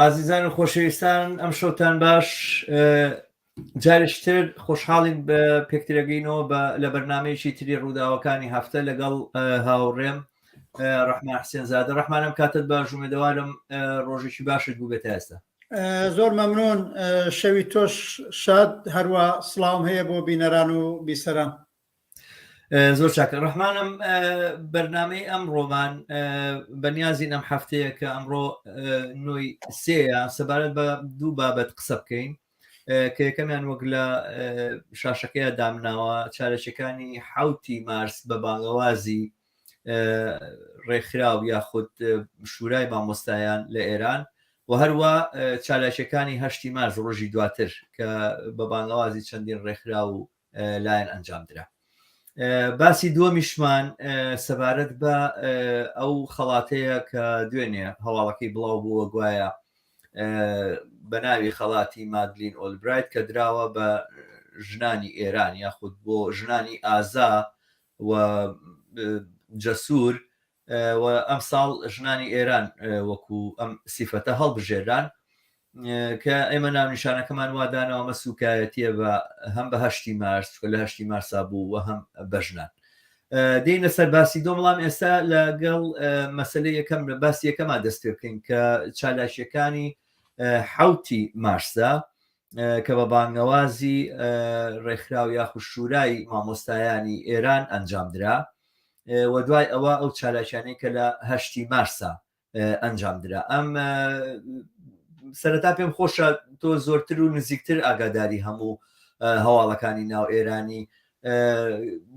ئازیزان و خۆشەویستان ئەم شەوتان باش جارشتر خۆشحاڵین بە پێکترەگەینەوە بە لە بەرنمەیەکی تری ڕووداوەکانی هەفتە لەگەڵ هاوڕێم ڕحمان حسێن زیادە ڕحمانم کاتت بە ژومێدەوارم ڕۆژێکی باشت بوو بێت ئێستا زۆر مەمنون شەوی تۆش شاد هەروە سلااوم هەیە بۆ بینەران و بیسەران زۆر چاکە ڕحمانم بەرنمەی ئەم ڕۆمان بەنیازین ئەم هەفتەیە کە ئەمڕۆ نوۆی سێە سەبارەت بە دوو بابەت قسە بکەین کە یەکەمیان وەک لە شاشەکەی دامناوە چارەچەکانی حوتی مارس بە بانگەوازی ڕێکخراو یاخود شورای مامۆستایان لە ئێران و هەروە چالاکیەکانی هەشتی مارس ڕۆژی دواتر کە بە بانگەوازی چەندین ڕێکخرا و لایەن ئەنجام درا باسی دووەمیشمان سەبارەت بە ئەو خەڵاتەیە کە دوێنێ هەواڵەکەی بڵاو بووە گوایە بە ناوی خەڵاتی مادلین ئۆلبرایت کە دراوە بە ژنانی ئێران یاخود بۆ ژنانی ئازا و جەسوور و ئەمساڵ ژنانی ئێران وەکو ئەم سیفەتە هەڵبژێرران کە ئێمە ناونیشانەکەمان وا داناوە مە سوکایەتیە بە هەم بە هەشتی مارس چکە لە هەشتی مارسا بوو و هەم بە ژنان دێنە سەر باسی دۆ بەڵام ئێستا لەگەڵ مەسلە یەکەم لە باسی یەکەما دەست پێ بکەین کە چالاکیەکانی حوتی مارسدا کە بە بانگەوازی ڕێکخراو یاخود شورای مامۆستایانی ئێران ئەنجام درا و دوای ئەوە ئەو چالاکیانەی کە لە هەشتی مارسا ئەنجام درا ئەم سەرەتا پێم خۆشە تۆ زۆرتر و نزیکتر ئاگاداری هەموو هەواڵەکانی ناو ئێرانی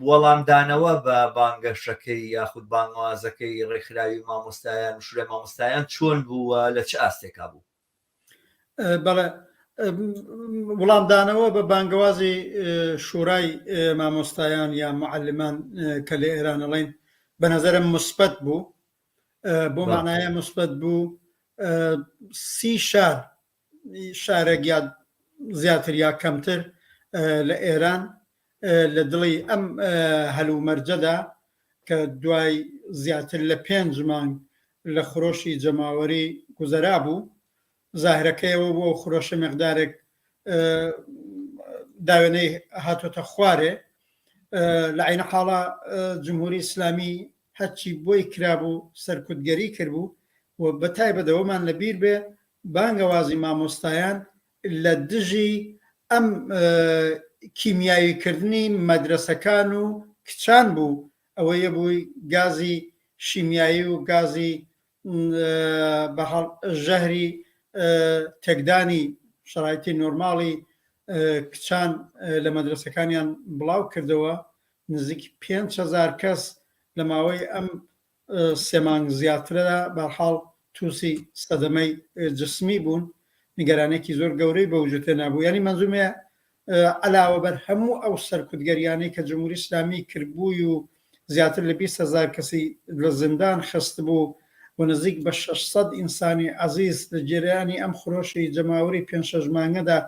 وەڵامدانەوە بە بانگەشەکەی یاخود بانوازەکەی ڕێکخراوی مامۆستایان شورە مامۆستایان چۆن بووە لە چ ئاستێکا بوو بەڵێ وڵامدانەوە بە بانگەوازی شورای مامۆستایان یا معلمان کە لە ئێران ئەڵین بە نظرم مثبت بوو بۆ مانایە مثبت بوو سی شار شارێک یا زیاتر یا کەمتر لە ئێران لە دڵی ئەم هەلومەرجەدا کە دوای زیاتر لە پێنج مانگ لە خرۆشی جەماوەری گوزەرا بوو، زاهرەکەیەوە بوو، ئەو خرۆشە مقدارێک داوێنەی هاتۆتە خوارێ، لە عەینە حاڵا جمهوری ئیسلامی هەرچی بۆی کرابوو سەرکوتگەری کردبوو و بە تایبەت ئەوەمان لە بیر بێ بانگەوازی مامۆستایان لە دژی ئەم کیمیاوی کردنی مەدرەسەکان و کچان بوو ئەوەیە بووی گازی شیمیایی و گازی بەهەڵ ژەهری تێکدانی شەڕایتی نۆرماڵی کچان لە مەدرسەکانیان بڵاو کردەوە نزیک پێنج هزار کەس لە ماوەی ئەم سێ مانگ زیاترە بەرحاڵ توسی سەدەمەی جسمی بوون نیگەرانێکی زۆر گەورەی بە وجود هێنا بوو یعنی منزومێ علاوە بەر هەموو ئەو سەرکوتگەریانەی کە جمهوری اسلامی کردبووی و زیاتر لە 20 هزار کەسی لە زیندان خست بوو و نزیک بە 600 ئینسانی عزیز لە جێرانی ئەم خرۆشی جەماوەری پێنج شەش مانگەدا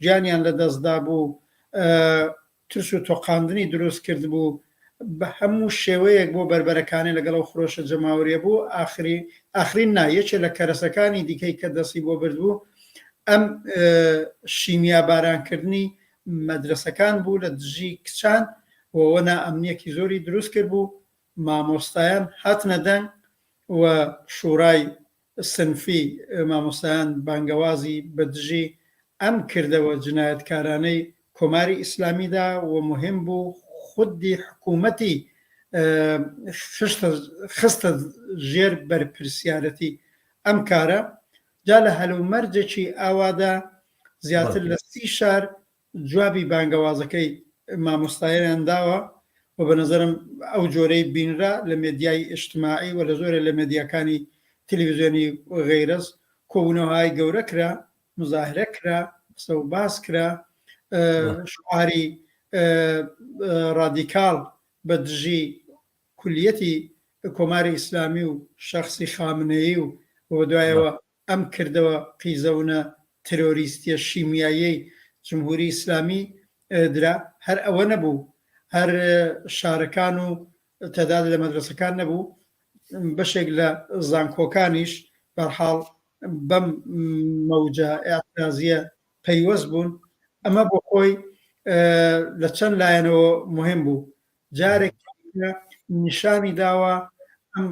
گیانیان لە دەستدا بوو ترس و تۆقاندنی دروست کردبوو بە هەموو شێوەیەک بۆ بەربەرەکانی لەگەڵ ئەو خرۆشە جەماوەریە بوو ئاخری ئاخرین نا یەکێ لە کەرەسەکانی دیکەی کە دەستی بۆ بردبوو ئەم شیمیا بارانکردنی مەدرسەکان بوو لە دژی کچان وەوە نا ئەمنیەکی زۆری دروست کرد بوو مامۆستایان هاتنە دەنگ و شوڕای سنفی مامۆستایان بانگەوازی بە دژی ئەم کردەوە جنایەتکارانەی کۆماری ئیسلامی دا و موهیم بوو خودی حکوومەتی خستە ژێر بەرپرسیارەتی ئەم کارە، جا لە هەلومەرجێکی ئاوادا زیاتر لە سی شار جوابی بانگەوازەکەی مامۆستایەیان داوە و بە نەزەرم ئەو جۆرەی بینرا لە مێدیای ئیجتماعی و لە زۆرێ لە مێدیاکانی تلویزیۆنی و غەیرەز کۆبوونەوهای گەورە کرا، مزاهرە کرا، قسە و باس کرا، شوعاری ڕادیکاڵ بە دژی کولیەتی کۆماری ئیسلامی و شەخسی خامنەیی و و بە دوایەوە ئەم کردەوە قیزەونە ترۆریستیە شیمیاییەی جمهوری ئیسلامی درا هەر ئەوە نەبوو هەر شارەکان و تەداد لە مەدرەسەکان نەبوو بەشێک لە زانکۆکانیش بەرحاڵ بەم مەوجە ئەعترازیە پەیوەست بوون ئەمە بۆ خۆی لە چەند لایەنەوە مهم بوو جارێک نیشانی داوە ئەم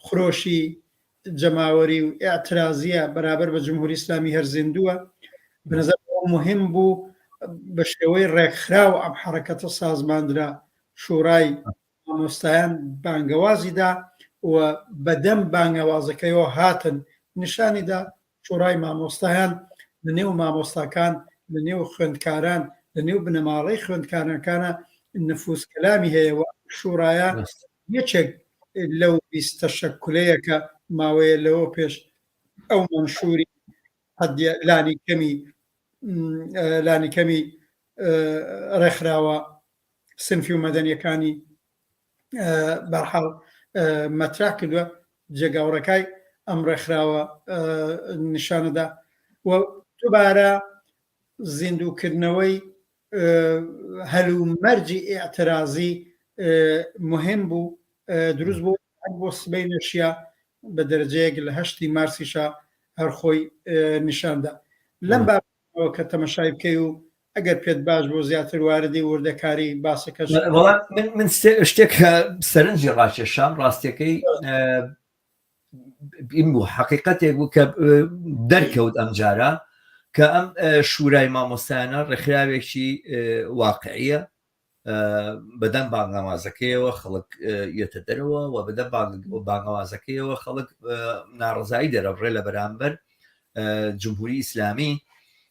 خرۆشی جەماوەری و ئاعترازیە بەرابەر بە جمهوری ئسلامی هەر زیندووە بنەزە مهم بوو بە شێوەی ڕێکخرا و ئەم حرەکەتە سازماندرا شوڕای مامۆستایان بانگەوازیدا و بەدەم بانگەوازەکەیەوە هاتن نیشانیدا شۆڕای مامۆستایان لە نێو مامۆستاکان، لە نێو خوێندکاران، لە نێو بنەماڵەی خوێندکارانکانە نفوز کەلامی هەیە و ئەم شوڕایە یەکێک لەو بیست تەشەکولەیە کە ماوەیە لەوە پێش ئەو مەنشوری حەدیە لانی کەمی لانی کەمی ڕێکخراوە سنفی و مەدەنیەکانی بەرحاڵ مەترا کردوە جێگاوڕێکای ئەم ڕێکخراوە نیشانەدا و دوبارە زیندووکردنەوەی هەل و مەرجی ئاعترازی مهم بوو دروست بوو بۆ سبەی نەشیە بە دەرجەیەک لە هەشتی مارسیشە هەرخۆی نیشاندا لەم بابەت ئەوە کە تەمەشای بکەی و ئەگەر پێت باش بوو زیاتر واردی وردەکاری باسەکەش بە. وەڵا من من شتێک سەرنجی ڕاکێشام ڕاستیەکەی بیم بوو حەقیقەتێک بوو کە دەرکەوت ئەم جارە کە ئەم شورای مامۆستایانە ڕێکخراوێکی واقعیە بەدەم بانگەوازەکەیەوە خەڵک یەتە دەرەوە و بەدە بانگەوازەکەیەوە خەڵک ناڕزایی دەرەبڕێ لە بەرامبەر جمهوری ئیسلامی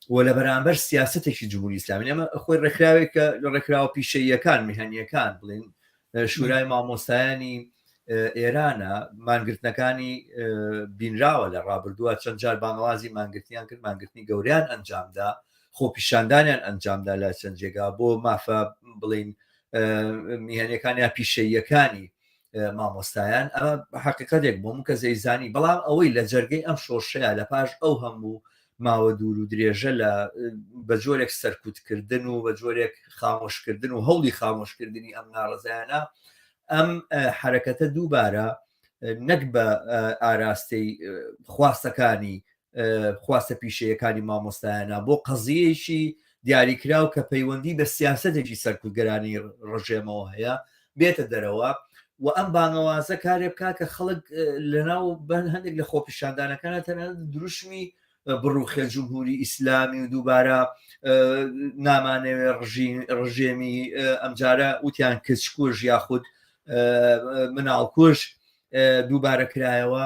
و لە بەرامبەر سیاستێکی جمهوری ئسلامی ئەمە خۆی ڕێکخراوێک کە لە ڕێکخراوە پیشەیەکان میهنیەکان بڵین شورای مامۆستایانی ئێرانە مانگرتنەکانی بینراوە لە ڕابردووە چەند جار بانەوازی مانگرتیان کرد مانگرتنی گەوریان ئەنجامدا خۆپیشاندانیان ئەنجامدا لە چەند جێگا بۆ مافە بڵین میهنەکان یا پیشەیەکانی مامۆستایان ئەمە حقیقەتێک بۆ مکە زەیزانی بەڵام ئەوەی لە جەرگەی ئەم شۆرشەیە لە پاش ئەو هەموو ماوە دوور و درێژە لە بە جۆرێک سەرکوتکردن و بە جۆرێک خامۆشکردن و هەوڵی خامۆشکردنی ئەم ناڕزایانە ئەم حرەکەتە دووبارە نەک بە ئاراستەی خواستەکانی خواستە پیشەیەکانی مامۆستایانە بۆ قەزیەکی دیاریکراو کە پەیوەندی بە سیاستێکی سەرکوتگەرانی ڕژێمەوە هەیە بێتە دەرەوە و ئەم بانەوازە کارێ بکە کە خەڵک لەناو بەن هەندێک لە خۆپیشاندانەکانە تەنە دروشمی بڕوخێ جمهوری ئیسلامی و دووبارە نامانەوێ ڕژێمی ئەمجارە وتیان کچکوش یاخود مناڵکوش دووبارە کرایەوە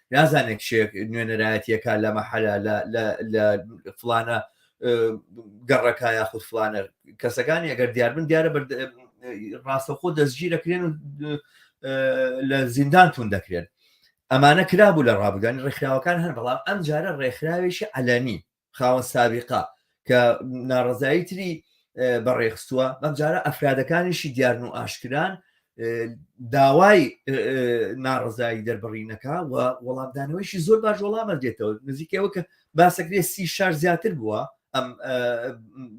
نازانێت کشێک نوێنەرایەتیەکە لە مەحەلە لە فلانە گەڕەکە یاخود فلانە کەسەکانی ئەگەر دیاربن دیارە ڕاستەخۆ دەستگیرەکرێن و لە زیندان تون دەکرێن ئەمانە کرابوو لە ڕابگەنی ڕێکخراوەکان هەن بەڵام ئەم جارە ڕێکخراوێکی علەنی خاوەن سابقە کە ناڕزایی تری بەڕێخستووە بەمجارە ئەفرادەکانیشی دیارن و ئاشکران داوای ناڕزایی دەربڕینەکە و وەڵامدانەوەیشی زۆر باش وەڵامە دێتەوە نزیکەوە کە باسەکرێ سی شار زیاتر بووە ئەم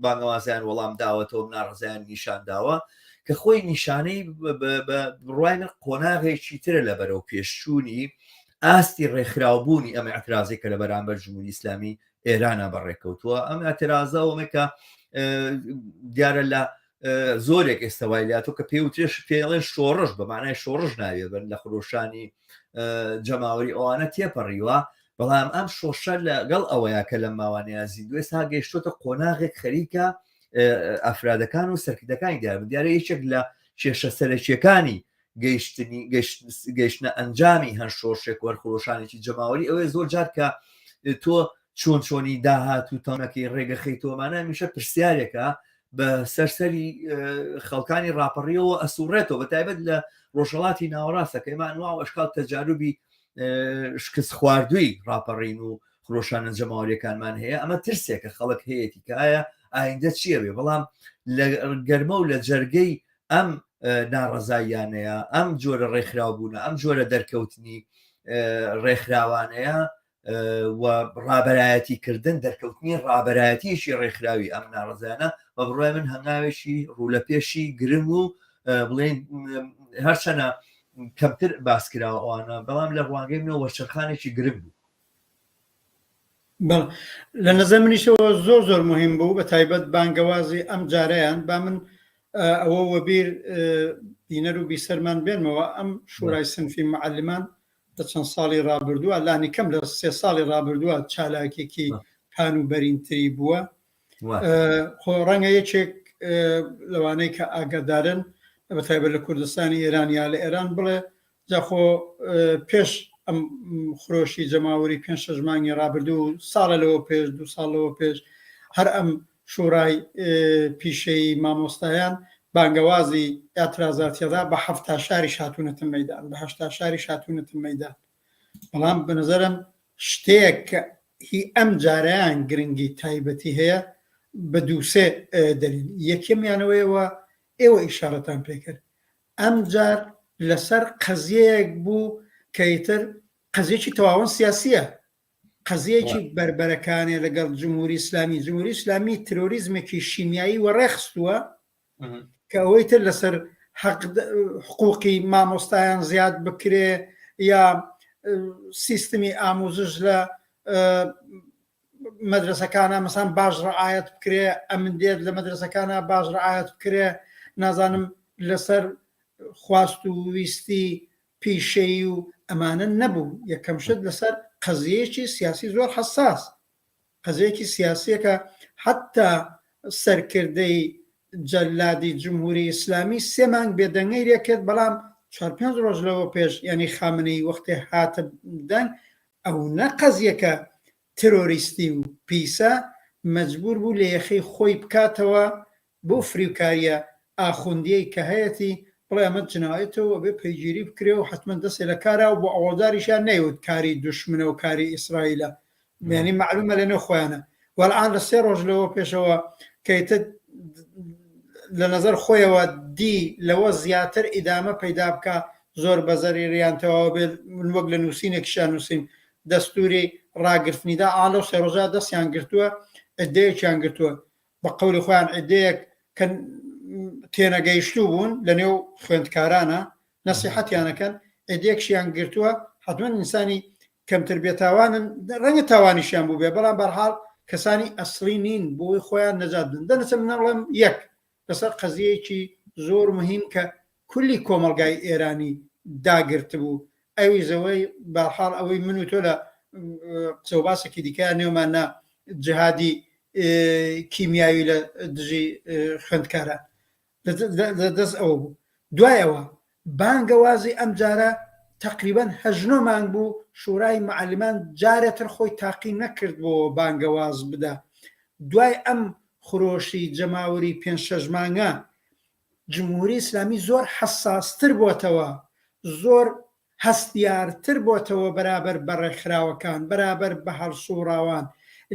بانەوازیان وەڵام داوەتەوە ناڕزیان نیشان داوە کە خۆی نیشانەی بڕوای من قۆناغێکی ترە لە بەرەو پێشچوونی ئاستی ڕێکخراوبوونی ئەمە ئەترازێک کە لە بەرامبەر جمهوری ئیسلامی ئێرانە بەڕێکەوتووە ئەم ئەترازە ئەومێکە دیارە لە زۆرێک ئێستاوای لاتۆ کە پێوتێش پێڵێن شۆڕش بە مانای شۆڕش ناوێ بن لە خرۆشانی جەماوەری ئەوانە تێپەڕیوە بەڵام ئەم شۆشە لەگەڵ ئەوەیە کە لە ماوانەیە زیندوێ تا گەیشتۆتە قۆناغێک خەریکە ئەفرادەکان و سەرکردەکانی دیار دیارە یەکێک لە کێشە سەرەکیەکانی گەیشتنی گەیشتنە ئەنجامی هەن شۆرشێک وەرخۆشانێکی جەماوەری ئەوەیە زۆر جار کە تۆ چۆن چۆنی داهات و تەونەکەی ڕێگە خەیتۆمانە میشە پرسیارێکە بە سەرسەری خەڵکانی راپەڕیەوە ئەسوڕێتەوە بە تایبەت لە ڕۆژهڵاتی ناوەڕاستەکەمان وا ئەشکال تەجاروبی شکست خواردووی راپەڕین و خرۆشانە جەماوەریەکانمان هەیە ئەمە ترسێکە خەڵک هەیەتیکایە ئایندە چیەوێ بەڵام لە گەرمە و لە جەرگەی ئەم ناڕەزاییانەیە ئەم جۆرە ڕێکخراو بوونە ئەم جۆرە دەرکەوتنی ڕێکخراوانەیە و ڕابەرایەتی کردن دەرکەوتنی ڕابەرایەتیشی ڕێکخراوی ئەم ناڕزانە بە بڕای من هەنگاوێکی ڕوو لە پێشی گرنگ و بڵێن هەرچەنە کەمتر باسکراوانە بەڵام لە ڕوانگەی منەوە وەرچەرخانێکی گرنگ بوو بەڵێ لە نەزەر منیشەوە زۆر زۆر مهم بوو بە تایبەت بانگەوازی ئەم جارەیان با من ئەوە وەبیر بینەر و بیسەرمان بێنمەوە ئەم شورای سنفی معلمان لە چەند ساڵی ڕابردووە لانی کەم لە سێ ساڵی ڕابردووە چالاکێکی پان و بەرینتری بووە خۆ ڕەنگە یەکێک لەوانەی کە ئاگادارن بە تایبەت لە کوردستانی ئێران یا لە ئێران بڵێ جاخۆ پێش ئەم خرۆشی جەماوەری پێ شەش مانگی ڕابردوو ساڵە لەوە پێش دو ساڵەوە پێش هەر ئەم شوڕای پیشەی مامۆستایان بانگەوازی ئاترازاتیەدا بە هەفتا شاری شاتونەتە مەدان بەهشتا شاری شاتونەتە مەدان بەڵام بە نظرم شتێک کە هی ئەم جارەیان گرنگی تایبەتی هەیە بە دووسێ دەلیل یەکەمیانەوەیەوە ئێوە ئیشارەتان پێکرد ئەم جار لەسەر قەزیەیەک بوو کەیتر قەزیەکی تەواون سیاسیە قەزیەکی بربەرەکانێ لەگەڵ جمهوری ئسلامی جمهوری ئسلامی ترۆریزمێکی شیمیایی وەڕێخستووە کە ئەوەی تر لەسەر حقوقی مامۆستایان زیاد بکرێ یا سیستمی ئاموزش لە مەدرسەکانە مەسان باش ڕعاەت بکرێ ئەمن دێت لە مەدرسەکانە باش ڕعاەت بکرێ نازانم لەسەر خواست و ویستی پیشەی و ئەمانە نەبوو یەکەم شت لەسەر قەزیەکی سیاسی زۆر حساس قەزیەکی سیاسیەکە حەتا سەرکردەی جەلادی جمهوری ئیسلامی سێ مانگ بێدەنگەی لێ کرد بەڵام چوار پێنج ڕۆژ لەوە پێش یانی خامنەی وەختێ هاتە دەنگ ئەو نە قەزیەکە ترۆریستی و پیسە مەجبور بوو لە یەخەی خۆی بکاتەوە بەو فریوکاریە ئاخوندیەی کە هەیەتی بڵێ ئەمە جنایەتە و ئەبێ پەیگیری بکرێ و حەتمەن دەستێ لە کارە و ئەوەڵداریشیان نەیوت کاری دوشمنە و کاری ئیسرائیلە یانی مەعلومە لە نێو خۆیانە و ئەلئان لە سێ ڕۆژ لەوە پێشەوە کە ئیتر لە نەزەر خۆیەوە دی لەوە زیاتر ئیدامە پەیدا بکا زۆر بە زەریریان تەواو بێت من وەک لە نووسینێکیشیان نووسیم دەستوری ڕاگرتنیدا ئا لەو سێ ڕۆژە دەستیان گرتووە ئەدەیەکیان گرتووە بە قەولی خۆیان عیدەیەک کە تێنەگەیشتوو بوون لە نێو خوێندکارانە نەسیحەتیان ئەکەن، عیدەیەکشیان گرتووە، حەتمەن ئینسانی کەمتر بێتاوانن، ڕەنگە تاوانیشیان بووبێ، بەڵام بە هەر حاڵ کەسانی ئەسڵی نین بۆ ئەوەی خۆیان نەجات بدەن. دەنەچم نەڵێم یەک لەسەر قەزییەیەکی زۆر موهیم کە کولی کۆمەڵگای ئێرانی داگرتبوو ئەوی زەوەی بەحاڵ ئەوەی من و تۆ لە قسە و باسێکی دیکە نێومان نا جهادی کیمیاوی لە دژی خوێندکاران لە دەست ئەوە بوو دوایەوە بانگەوازی ئەم جارە تقریبان هەژنۆ مانگ بوو شورای معلمان جارێتر خۆی تاقی نەکرد بۆ بانگەواز بدا دوای ئەم خرۆشی جەماوری پێ شەژمانگە جمهوری ئیسلامی زۆر حەساستر بۆتەوە، زۆر هەستیارتر بۆتەوە بەرابەر بە ڕێکخراوەکان، بەرابەر بە هەڵسووڕاوان،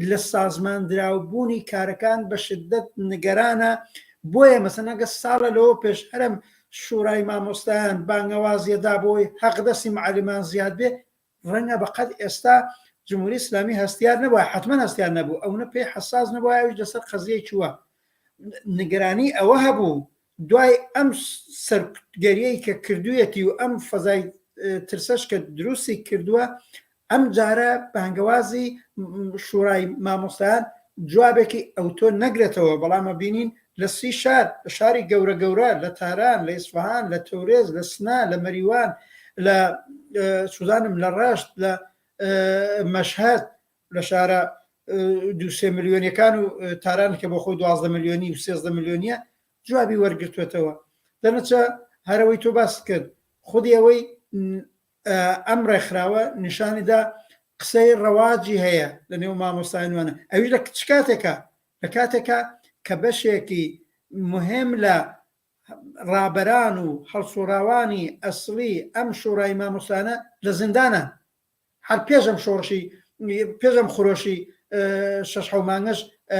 لە سازماندراوبوونی کارەکان بە شددەت نگەرانە، بۆیە مەسەلەن ئەگەر ساڵە لەوە پێش هەرم شوورای مامۆستایان بانگەوازیە دا بۆی هەقدەسی معەلمان زیاد بێ، ڕەنگە بە قەد ئێستا جمهوری ئیسلامی هەستیار نەبووە حتمما هەستیار نەبوو ئەونە پێی حساس نەبووە ئەوش لەسەر قەزیەی چووە نگرانی ئەوە هەبوو دوای ئەم سەرگەریەی کە کردویەتی و ئەم فەزای ترسەش کە دروستی کردووە ئەم جارە بانگەوازی شوڕای مامۆستایان جوابێکی ئەوتۆ نەگرێتەوە بەڵامە بینین لە سی شار، لە شاری گەورە گەورە، لە تاران، لە ئیسفەهان، لە تەورێز، لە سنە، لە مەریوان، لە چوزانم لە ڕەشت، لە مەشهەد، لە شارە دوو سێ ملیۆنیەکان و تاران کە بۆ خۆی دوازدە ملیۆنی و سێزدە ملیۆنیە جوابی وەرگرتوێتەوە دەنەچە هەرەوەی تۆ باست کرد خودی ئەوەی ئەم ڕێکخراوە نیشانیدا قسەی ڕەواجی هەیە لە نێو مامۆستاینوانە ئەوی لە کچ کاتێکە لە کاتێکا کە بەشێکی موهێم لە ڕابەران و هەڵسوڕاوانی ئەسڵی ئەم شۆڕای مامۆستایانە لە زیندانان هەر پێش ئەم شۆڕشی پێش ئەم خرۆشی شەش حەو مانگەش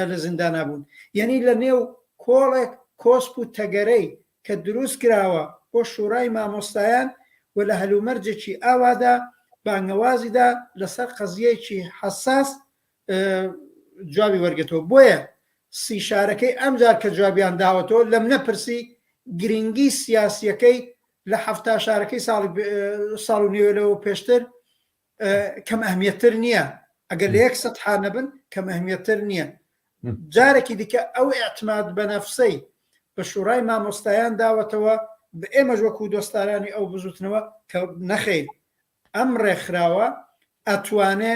لە زیندانا بوون یەنی لە نێو کۆڵێک کۆسپ و تەگەرەی کە دروست کراوە بۆ شوڕای مامۆستایان و لە هەلومەرجێکی ئاوادا بانگەوازیدا لەسەر قەزیەکی حەساس جوابی وەرگتەوە بۆیە سی شارەکەی ئەمجار کە جوابیان داوەتەوە لەم نەپرسی گرنگی سیاسیەکەی لە حفتا شارەکەی ساڵی ساڵ و نوێلەوە پێشتر کەم ئەهمیتر نییە ئەگەر لە یەک سەحان نەبن کەم ئەهمیتر نییە جارێکی دیکە ئەو ئەعتماد بە نەفسەی بە شوڕای مامۆستایان داوەتەوە بە ئێمەش وەکو دۆستارانی ئەو بزوتنەوە کە نەخەین ئەم ڕێکخراوە ئەتوانێ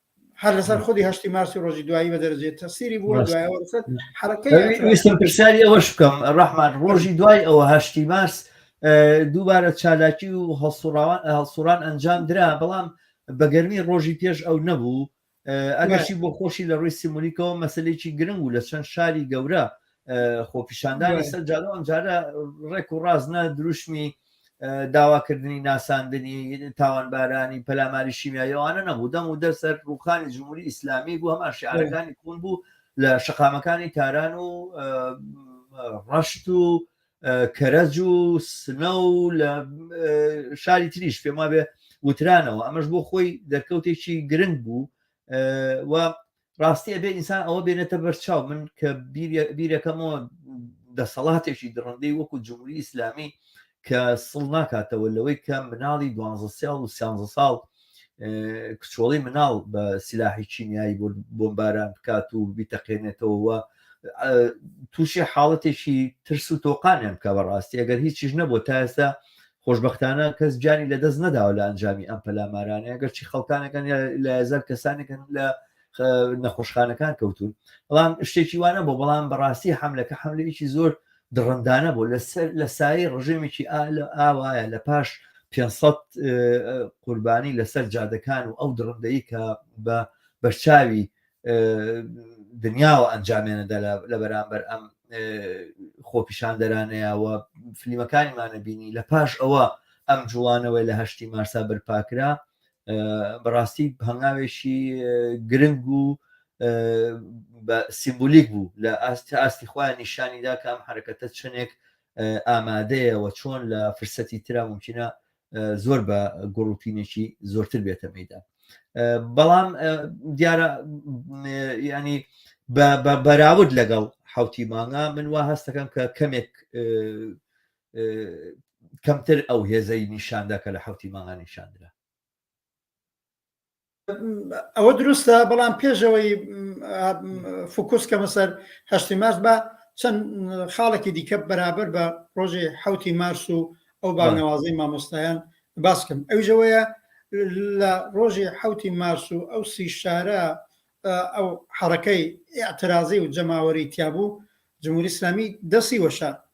هەر لەسەر خودی هەشتی مارسی ڕۆژی دوایی بە دەرەجێت تەسیری بووە دوایەوەستم پرسیاری ئەوەش بکەم ڕحمان ڕۆژی دوای ئەوە هەشتی مارس دووبارە چالاکی و هەڵسوڕان ئەنجام درا بەڵام بەگەرمی ڕۆژی پێش ئەو نەبوو ئەگەشی بۆ خۆشی لە ڕووی سیمولیکەوە مەسلێکی گرنگ و لە چەند شاری گەورە خۆپیشاندانی سەر جادە ئەمجارە ڕێک و ڕاست نە دروشمی داواکردنی ناساندنی تاوانبارانی پەلاماری شیمیایەوانە نەبوو دەم و دەسەر ڕوخانی جمهوری ئیسلامی بوو هەمان شعارەکانی کون بوو لە شقامەکانی تاران و ڕەشت و کەرەج و سنە و لە شاری تریش پێما بێ وترانەوە ئەمەش بۆ خۆی دەرکەوتێکی گرنگ بوو و ڕاستی ئەبێ ئینسان ئەوە بێنێتە بەرچاو من کە بیرەکەمەوە دەسەڵاتێکی دڕندەی وەکو جمهوری ئیسلامی کە سڵ ناکاتەوە لەوەی کە مناڵی دوانزە ساڵ و سیانزە ساڵ کچۆڵی مناڵ بە سلاحی چینایی بۆمباران بکات و بیتەقێنێتەوە تووشی حاڵەتێکی ترس و تۆقانیان بکە بەڕاستی ئەگەر هیچیش نەبوو تا ئێستا خۆشبەختانە کەس گیانی لەدەست نەداوە لە ئەنجامی ئەم پەلامارانەیە گەرچی خەڵکانەکان لە هزار کەسانێکن لە نەخۆشخانەکان کەوتون بەڵام شتێکی وانە بۆ بەڵام بەڕاستی حملەکە حملەیەکی زۆر دڕندانە بۆ لەسەر لە سایی ڕژێمێکی ئالە ئاوایە لە پاش 500 قوربانی لەسەر جادەکان و ئەو دڕندەی کە بە بەرچاوی دنیاوە ئەنجامێنەدا لە بەرامبەر ئەم خۆپیشاندەرانەیەوە فلیمەکانیمانە بینی لە پاش ئەوە ئەم جوڵانەوەی لە هەشتی مارسا بەرپاکرا بەڕاستی هەنگاوێکی گرنگ و بە سیمبولیک بوو لە ئاست ئاستی خۆیان نیشانیدا کە ئەم حرەکەتە چنێک ئامادەیەوە چۆن لە فرسەتی ترا ممکنە زۆر بە گوڕوتینێکی زۆرتر بێتە میدا بەڵام دیارە ینی بە بەراود لەگەڵ حوتی مانگا من وا هەستەکەم کە کەمێک کەمتر ئەو هێزەی نیشاندا کە لە حوتی مانگا نیشاندرا ئەوە دروستە بەڵام پێشەوەی فکوس کەمە سەر هەشتی مارس بە چەند خاڵێکی دیکە بەرابەر بە ڕۆژی حوتی مارس و ئەو بانەوازی مامۆستایان باسکەم ئەوژەوەیە لە ڕۆژی حوتی مارس و ئەو سی شارە ئەو حڕەکەی ئاعترازی و جەماوەری تیابوو جمهوری اسلامی دەسی وەشە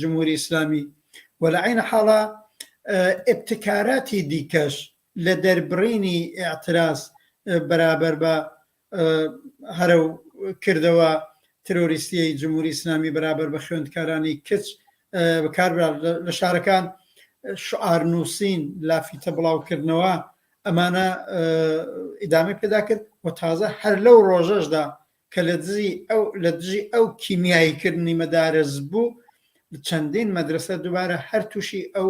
جمهوری ئیسلامی و لە عەین حاڵا ئیبتکاراتی دیکەش لە دەربڕینی ئیعتراز بەرابەر بە هەرە و کردەوە ترۆریستیی جمهوری ئیسلامی بەرابەر بە خوێندکارانی کچ بەکاربرا لە شارەکان شعار نووسین لافیتە بڵاوکردنەوە ئەمانە ئیدامی پێدا کرد و تازە هەر لەو ڕۆژەشدا کە لە دژی ئەو لە دژی ئەو کیمیایی کردنی مەدارەس بوو چەندین مەدرسە دووبارە هەر تووشی ئەو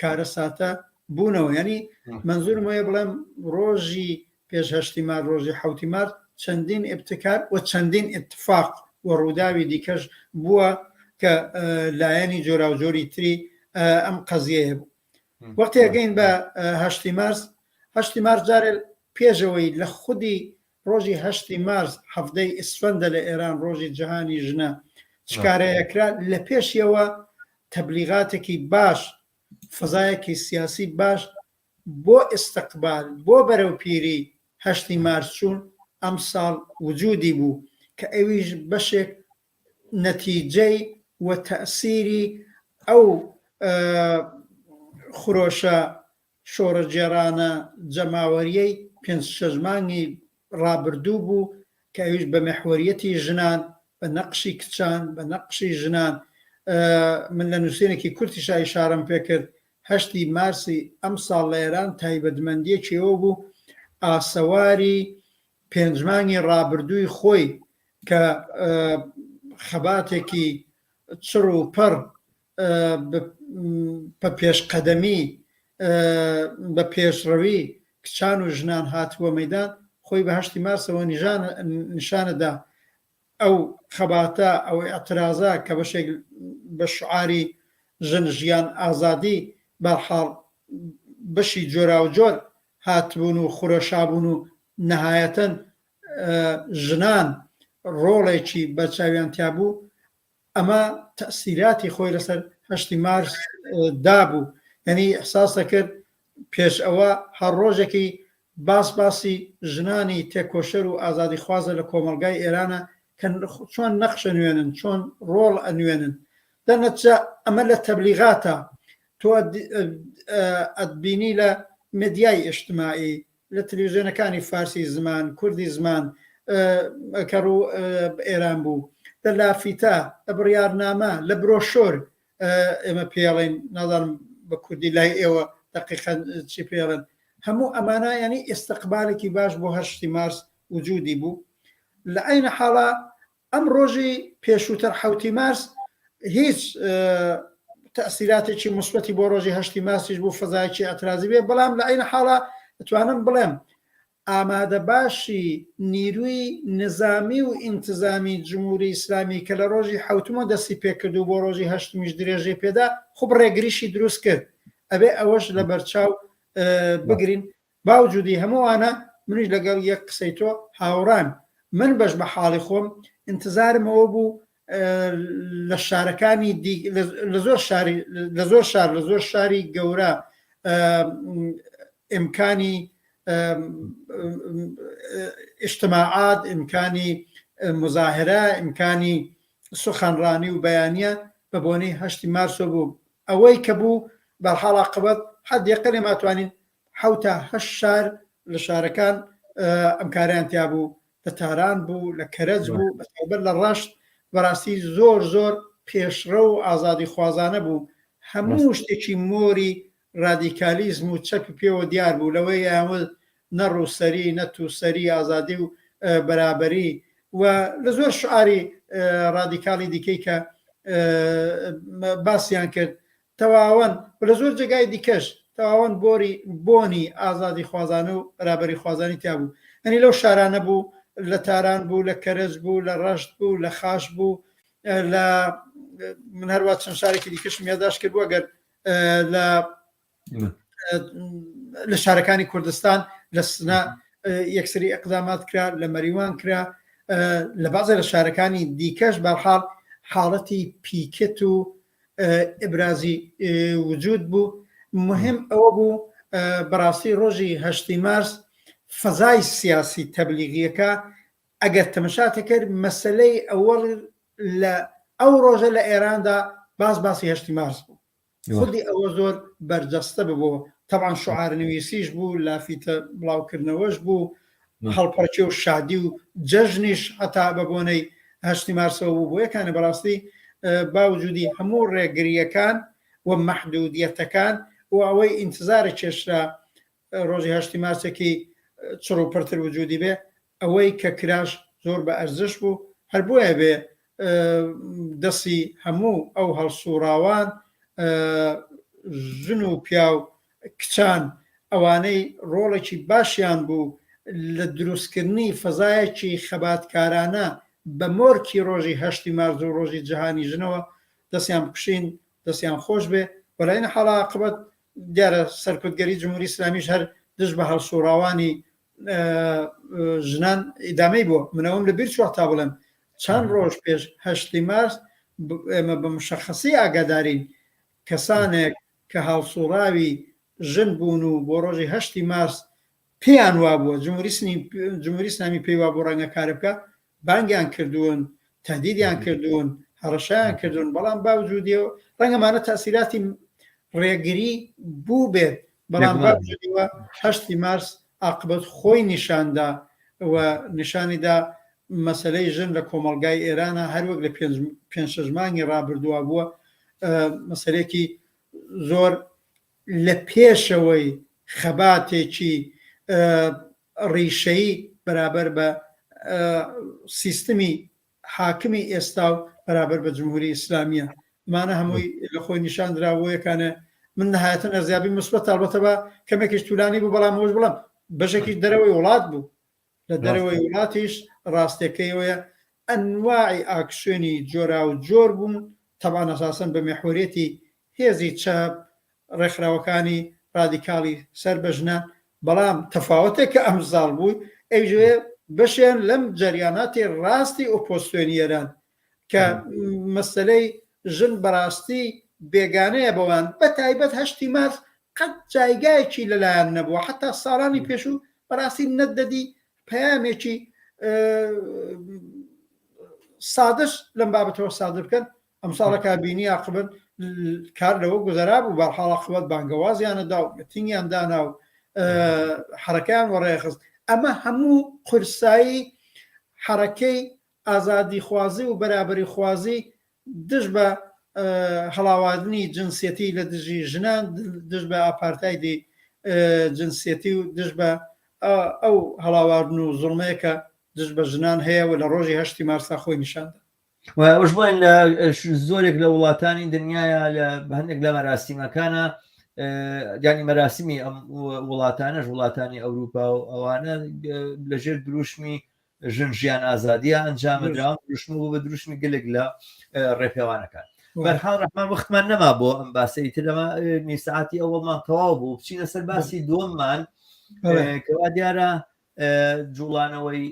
کارە ساتە بوونەوە ینی منزور مۆیە بڵێم ڕۆژی پێش هەشتی مار ڕۆژی حوتی مار چەندین ابتکار و چەندین اتفاق و ڕووداوی دیکەش بووە کە لایەنی جۆراوجۆری تری ئەم قەزیەیە بوو وەختێگەین بە هەشتی مارس هەشتی مارس جارێ پێشەوەی لە خودی ڕۆژی هەشتی مارس حەڤدەی ئیسفەندە لە ئێران ڕۆژی جەهانی ژنە چ کارەیە کرا لە پێشیەوە تەبلیغاتێکی باش فەزایەکی سیاسی باش بۆ ئیستقبال بۆ بەرەو پیری هەشتی مارس چوون ئەمساڵ وجودی بوو کە ئەویش بەشێک نەتیجەی وە تەئسیری ئەو خرۆشە شۆڕشگێڕانە جەماوەریەی پێنج شەش مانگی ڕابردوو بوو کە ئەویش بە مێحوەریەتی ژنان بە نەقشی کچان بە نەقشی ژنان من لە نووسینێکی کورتیشا ئیشارەم پێکرد هەشتی مارسی ئەم ساڵ لە ئێران تایبەتمەندیەکیەوە بوو ئاسەواری پێنجمانگی ڕابردووی خۆی کە خەباتێکی چڕ و پڕ بە پێشقەدەمی بە پێشڕەوی کچان و ژنان هاتبووە مەیدان، خۆی بە هەشتی مارسەوە نیشانەدا، ئەو خەباتە، ئەو ئیعترازە کە بەشێک بە شعاری ژن، ژیان، ئازادی بەرحاڵ بەشی جۆراوجۆر هاتبوون و خورەشابوون و نەهایەتەن ژنان ڕۆڵێکی بەرچاویان تیابوو، ئەمە تەئسیراتی خۆی لەسەر هەشتی مارس دابوو یانی ئیحساس دەکرد پێش ئەوە هەر ڕۆژێکی باس باسی ژنانی تێکۆشەر و ئازادیخوازە لە کۆمەڵگای ئێرانە کە چۆن نەخش ئەنوێنن چۆن ڕۆڵ ئەنوێنن دەرنەتجە ئەمە لە تەبلیغاتە تۆ ئەتبینی لە مدیای ئیشتمایی لە تلویزیۆنەکانی فارسی زمان، کوردی زمان کە ڕوو بە ئێران بوو، لە لافیتە، لە بڕیارنامە، لە برۆشۆر ئێمە پێی ئەڵێین، نازانم بە کوردی لای ئێوە دەقیقەن چی پێی ئەڵێن. هەموو ئەمانە یانی ئیستقبالێکی باش بۆ هەشتی مارس وجودی بوو. لە عەینە حاڵا ئەم ڕۆژی پێشووتر حەوتی مارس هیچ تەسیراتێکی مسبەتی بۆ ڕۆژی هەشتی ماسیش بوو فەزایکی ئەترازی بێ بەڵام لە عین حاڵە توانم بڵێم ئامادە باشی نیروی نظامی و ئینتزامی جمهوری ئیسلامی کە لە ڕۆژی حوتمە دەستی پێکرد و بۆ ڕۆژی هەشتمیش درێژەی پێدا خوب ڕێگریشی دروست کرد ئەبێ ئەوەش لە بەرچاو بگرین باوجودی هەموانە منیش لەگەڵ یەک قسەی تۆ هاوڕان من بەش بە حاڵی خۆم ئینتزارم ئەوە بوو لە شارەکانی دی لە زۆر شاری لە زۆر شار لە زۆر شاری گەورە ئیمکانی ئیشتماعات ئیمکانی مزاهرە ئیمکانی سخنڕانی و بەیانە بە بۆنەی هەشتی مارسۆ بوو ئەوەی کە بوو بەرحاڵا قبەت حد یەقلێ ماتوانین حەوت تا هەشت شار لە شارەکان ئەم کارەیان تیا بوو لە تاران بوو لە کەرەج بوو بە تایبەت لە ڕەشت بەڕاستی زۆر زۆر پێشڕە و ئازادی خوازانە بوو هەموو شتێکی مۆری ڕادیکالیزم و چەپ پێوە دیار بوو لەوەی یاوە نە ڕووسەری نە تووسەری ئازادی و بەرابەری و لە زۆر شعاری ڕادیکالی دیکەی کە باسیان کرد تەواون و لە زۆر جێگای دیکەش تەواون بۆری بۆنی ئازادیخوازانە و بەرابەریخوازانی تیا بوو یانی لەو شارانە بوو لە تاران بوو لە کەرەج بوو لە ڕەشت بوو لە خاش بوو لە من هەروە چەند شارێکی دیکەشم یاداش کرد بووە گەر لە لە شارەکانی کوردستان لە سنە یەکسری ئەقدامات کرا لە مەریوان کرا لە بازە لە شارەکانی دیکەش بەرحاڵ حاڵەتی پیکت و ئیبرازی وجود بوو مهم ئەوە بوو بەڕاستی ڕۆژی هەشتی مارس فەزای سیاسی تەبلیغیەکە ئەگەر تەمەشاتە کرد مەسلەی ئەوە لە ئەو ڕۆژە لە ئێراندا باز باسی هەشتی مارس بوو خودی ئەوە زۆر بەرجەستە ببوو تەوان شعار نوویسیش بوو لافیتە بڵاوکردنەوەش بوو هەڵپەڕکێ و شادی و جەژنیش هەتا بە بۆنەی هەشتی مارسەوە بوو بۆ یەکانە بەڕاستی باوجودی هەموو ڕێگریەکان و مەحدودیەتەکان و ئەوەی ئینتزارە کێشرا ڕۆژی هەشتی مارسێکی چڕ و پڕتر وجودی بێ ئەوەی کە کراش زۆر بە ئەرزش بوو هەر بۆیە بێ دەسی هەموو ئەو هەڵسووڕاوان، ژن و پیاو، کچان، ئەوانەی ڕۆڵێکی باشیان بوو لە دروستکردنی فەزایەکی خەباتکارانە بە مۆرکی ڕۆژی هەشتی مارس و ڕۆژی جەهانی ژنەوە، دەسیان بکشین، دەسیان خۆش بێ، وەلائینەحاڵ عاقبەت دیارە سەرکوتگەری جمهوری ئیسلامیش هەر دژ بە هەڵسووڕاوانی ژنان ئیدامەی بۆ منەوەم لە بیر چوە تا بڵێم چەند ڕۆژ پێش هەشتی مارس ئێمە بە مشەخەسی ئاگادارین کەسانێک کە هاوسوڕاوی ژن بوون و بۆ ڕۆژی هەشتی مارس پێیان وابووە جمهوری سنی جمهوری سنامی پێی وابوو ڕەنگە کارە بکە بانگیان کردوون، تەهدیدیان کردوون، هەڕەشەیان کردوون، بەڵام باوجودی ئەوە، ڕەنگە ئەمانە تاسیراتی ڕێگری بووبێت، بەڵام باوجودی ئەوە هەشتی مارس ئاقبەت خۆی نیشاندا و نیشانیدا مەسەلەی ژن لە کۆمەڵگای ئێرانە هەر وەک لە پێنج پێنج شەش مانگی ڕابردووە بووە مەسەلێکی زۆر لە پێشەوەی خەباتێکی ڕیشەیی بەرابەر بە سیستمی حاکمی ئێستا و بەرابەر بە جمهوری ئیسلامیە ئەمانە هەمووی لە خۆی نیشان دراوەیەکانە من نهایەتن ئەزیابی مسبەت تاڵبەتە بە کەمێکیش تولانی بوو بەڵام هۆش بڵم بەشێکی دەرەوەی وڵات بوو لە دەرەوەی وڵاتیش ڕاستەکەیەوەیە ئەنواعی ئاکسێنی جۆرا و جۆر بوون تەبان ئەساسن بە مەحوریەتی هێزی چەپ، ڕێکخراوەکانی ڕادیکاڵی سەر بە ژنان، بەڵام تەفاوەتێک کە ئەم زاڵ بوو، ئەیجوێ بەشێان لەم جەریاناتی ڕاستی ئۆپۆزسیۆنی ئێران کە مەسەلەی ژن بەڕاستی بێگانەیە بەوان، بە تایبەت هەشتی مارس قەت جایگایەکی لە لایان نەبووە، حەتا ساڵانی پێشوو بەڕاستی نەتدەدی پەیامێکی سادەش لەم بابەتەوە سادر بکەن، ئەمساڵە کا بینی ئاقبەت کار لەوە گوزەرا بوو بەرحاڵ ئاقبەت بانگەوازیانە دا و متینگیان دانا و حرەکەیان وەڕێخست ئەمە هەموو قورسایی حرەکەی ئازادی خوازی و بەرابری خوازی دژ بە هەڵاواردنی جنسەتی لە دژی ژنان دژ بە ئاپارتایدی جنسەتی و دژ بە ئەو هەڵاواردن و زڵمەیەکە دژ بە ژنان هەیە و لە ڕۆژی هەشتی مارسا خۆی نیشاندا ئەوش بڵێن لە زۆرێک لە وڵاتانی دنیاە لە هەندێک لە مەراسیمەکانە گانی مەراسمی ئەم وڵاتانەش وڵاتانی ئەوروپا و ئەوانە لەژێر دروشمی ژن ژیان ئازادیە ئەنجامەدا دروشم بوو بە دروشمی گەلێک لە ڕێپێوانەکان بەرحال ڕحمان وەختمان نەما بۆ ئەم باسی تر لەمە نیساعاتی ئەوەڵمان تەواو بوو بچینە سەر باسی دووەممان کەوا دیارە جوڵانەوەی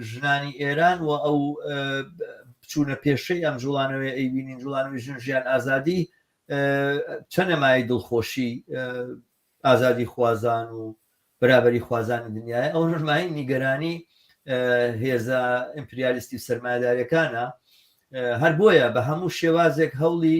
ژنانی ئێران و ئەو بچوونە پێشەی ئەم جوڵانەوەی ئەیبینین جوڵانەوەی ژن ژیان ئازادی چەنەمای دڵخۆشی ئازادی خوازان و برابری خوازانی دنیای ئەو ژمای نیگەرانی هێزە ئیمپریالیستی سەرمایدارەکانە هەر بۆیە بە هەموو شێوازێک هەوڵی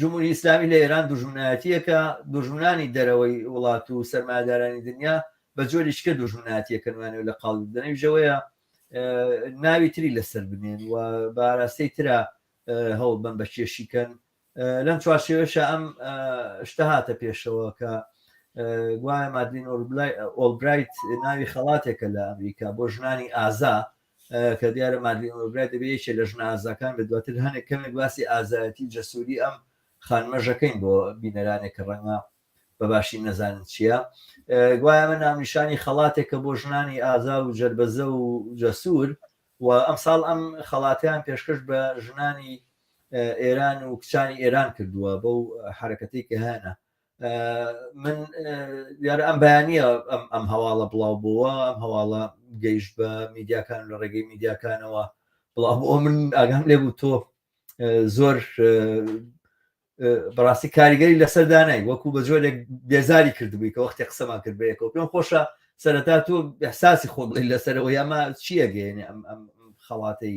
جمهوری ئیسلامی لە ئێران دوژمنایەتیەکە دوژمنانی دەرەوەی وڵات و سەرمادارانی دنیا بە جۆری شکە دوژمناتیەکە نوانێ لە قاڵ دەنەویژەوەیە ناوی تری لەسەر بنێن و باراستەی تررا هەوڵ بم بە کێشیکەن لەم چوارشێوەشە ئەم شتە هاتە پێشەوە کە گوایە مادلین ئۆلبرایت ناوی خەڵاتێکە لە ئەمریکا بۆ ژنانی ئازا کە دیارە مادلین ئۆلبرایت دەبێ یەکێ لە ژنە ئازاکان بێت دواتر هەنێک کەمێک باسی ئازایەتی و جەسووری ئەم خانمەژەکەین بۆ بینەرانێک کە ڕەنگە بە باشی نەزانن چییە گوایە ئەمە ناونیشانی خەڵاتێکە بۆ ژنانی ئازا و جربەزە و جەسوور و ئەم ساڵ ئەم خەڵاتیان پێشکەش بە ژنانی ئێران و کچانی ئێران کردووە بەو حرەکەتی کە هەیە من یارە ئەم بەیانە ئەم هەواڵە بڵاو بووە ئەم هەواڵە گەیشت بە میدیاکان لە ڕێگەی میدیاکانەوە بڵاو بۆ من ئاگام لێ بوو تۆ زۆر بەڕاستی کاریگەری لەسەر دانای وەکو بە جۆرێک بێزاری کردبووی کە وەختی قسەمان کرد بەیەکەوە پێم خۆشە سەرەتا تۆ احساسی خۆ بڵی لەسەرەوە یاما چیەگەێنێ ئەم خەڵاتەی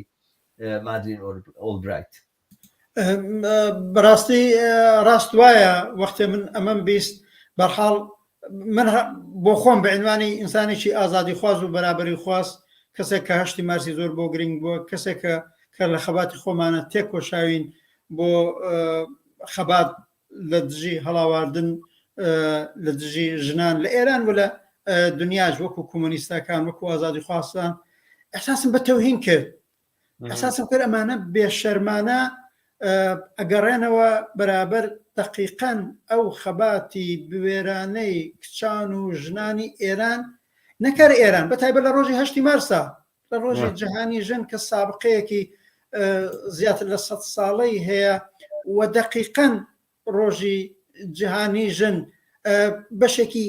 مادرین ئۆلبرایت بەڕاستی ڕاست وایە وەختێ من ئەمەم بیست بەرحاڵ من بۆ خۆم بە عنوانی ئینسانێکی ئازادی خواز و بەرابری خواز کەسێک کە هەشتی مارسی زۆر بۆ گرنگ بووە کەسێکە کە لە خەباتی خۆمانە تێکۆشاوین بۆ خەبات لە دژی هەڵاواردن لە دژی ژنان لە ئێران و لە دنیاش وەکو کۆمۆنیستەکان وەکو ئازادی خواستان احساسم بە تەوهین کرد ئەساسم کرد ئەمانە بێشەرمانە ئەگەڕێنەوە بەرابەر دەقیقەن ئەو خەباتی بوێرانەی کچان و ژنانی ئێران نەکەر ئێران بە تایبەت لە ڕۆژی هەشتی مارسا لە ڕۆژی جیهانی ژن کە سابقەیەکی زیاتر لە سە ساڵەی هەیە و دەقیقەن ڕۆژی جیهانی ژن بەشێکی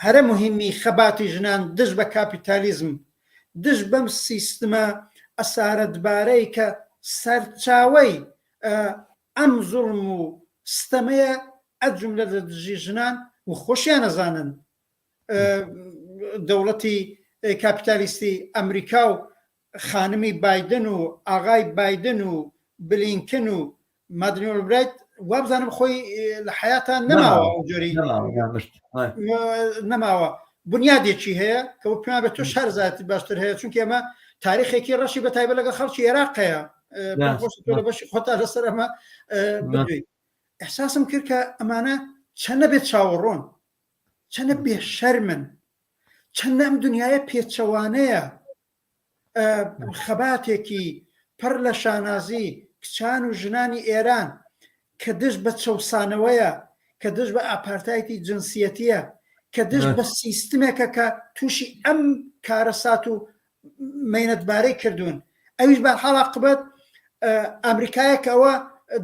هەرە مهمی خەباتی ژنان دژ بە کاپیتالیزم دژ بەم سیستمە ئەسارەتبارەی کە سەرچاوی ئەم زوڵم و ستەمەیە ئەجملە لە دژی ژنان و خۆشیان نەزانن دەوڵەتی کاپیتالیستی ئەمریکا و خانمی بایدن و ئاغای بایدن و بلینکن و مادلین ئۆلبرایت وابزانم خۆی لە حیاتا نەماوە ئەوجۆری نەماوە بنیادێکی هەیە کە پێیان بە تۆ شارزاتی باشتر هەیە چونکە ئەمە تاریخێکی ڕەشی بە تایبە لەگە خەڵکی عێراقەیە بەشی خۆتا لەسەر ئەمە احساسم کرد کە ئەمانە چەنە بێت چاوەڕۆن چەنە بێ شەرمن چەندە ئەم دنیاە پێچەوانەیە خەباتێکی پڕ لە شانازی کچان و ژنانی ئێران کە دژ بە چەوسانەوەیە، کە دژ بە ئاپارتایتی جنسیەتیە، کە دژ بە سیستمێکە کە تووشی ئەم کارەسات و مەینەتبارەی کردوون. ئەویش بەرحاڵ عاقبەت ئەمریکایە کە ئەوە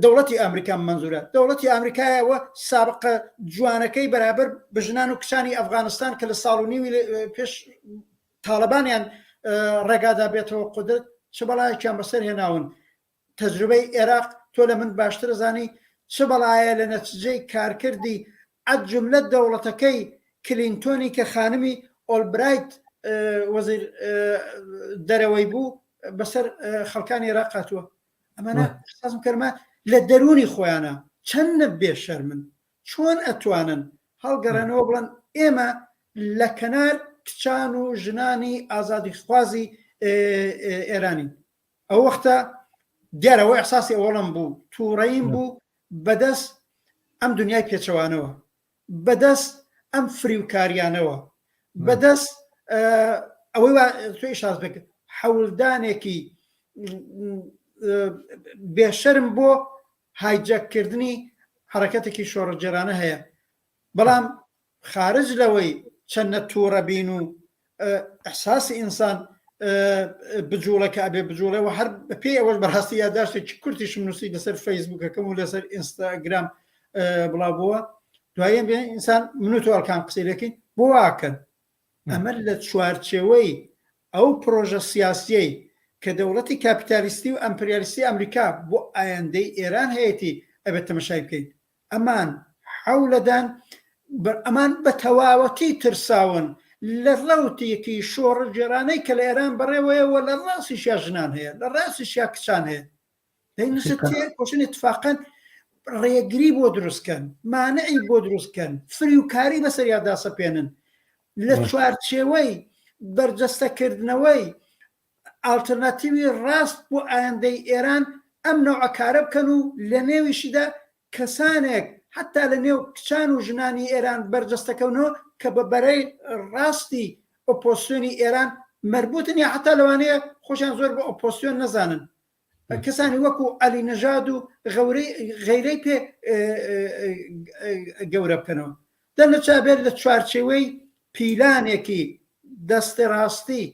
دەوڵەتی ئەمریکا منزورە دەوڵەتی ئەمریکایەوە سابقە جوانەکەی بەرابەر بە ژنان و کچانی ئەفغانستان کە لە ساڵ و نیوی پێش تاڵەبانیان ڕێگادا بێتەوە قودرت چ بەڵایەکیان بەسەر هێناون تەجروبەی ئێراق تۆ لە من باشتر زانی چ بەڵایە لە نەتجەی کارکردی عەد جملە دەوڵەتەکەی کلینتۆنی کە خانمی ئۆلبرایت وەزیر دەرەوەی بوو بەسەر خەڵکانی ئێراق هاتووە ئەمانە سازم کەرمە لە دەرونی خۆیانە چەندە بێشەرمن چۆن ئەتوانن هەڵگەڕێنەوە بڵێن ئێمە لە کەنار کچان و ژنانی ئازادی خوازی ئێرانین ئەو وەختە دیارەوە ئەحساسی ئەوڵم بوو تووڕەیم بوو بەدەست ئەم دنیای پێچەوانەوە بەدەست ئەم فریوکاریانەوە بەدەست ئەوەی توی شاز بکرد حەولدانێکی بێشرم بۆ هایجەک کردنی حەرەکەتێکی شۆڕشگێرانە هەیە بەڵام خارج لەوەی چەندە تووڕە بین و ئەحساسی ئینسان بجوڵە کە ئەبێ بجوڵەوە هەر پێی ئەوەش بەڕاستی یاداشتێکی کورتیشم نووسی لەسەر فەیسبوکەکەم و لەسەر ئینستاگرام بڵاو بووە دوایە بێ ئینسان منوتۆڵکان قسەیەکەی بۆ واکەن ئەمە لە چوارچێوەی ئەو پرۆژە سیاسیەی کە دەوڵەتی کاپیتالیستی و ئەمپریالیستی ئەمریکا بۆ ئایەندەی ئێران هەیەتی ئەبێت تەمەشای بکەین ئەمان حەولەدان ئەمان بە تەواوەتی ترساون لە ڕەوتێکی شۆڕگێرانەی کە لە ئێران بەڕێوەیە و لە ڕاستیشیا ژنان هەیە لە ڕاستیشیا کچان هەیە پێشن اتفاقەن ڕێگری بۆ دروستکەن مانعی بۆ دروستکەن فریوکاری بەسەر یادا سەپێنن لە چوارچێوەی بەرجەستەکردنەوەی ئالتەرناتیوی ڕاست بۆ ئایندەی ئێران ئەم نەوەکارە بکەن و لە نێویشیدا کەسانێک حتا لە نێو کچان و ژنانی ئێران بەرجەستەکەونەوە کە بە بەرەی ڕاستی ئۆپۆسیۆنی ئێران مربوتن یا حتا لەوانەیە خۆشیان زۆر بە ئۆپۆسیۆن نەزانن کەسانی وەکو عەلی نەژاد و غەیرەی پێ گەورە بکەنەوە دە نەچبێت لە چوارچێوەی پیلانێکی دەستە ڕاستی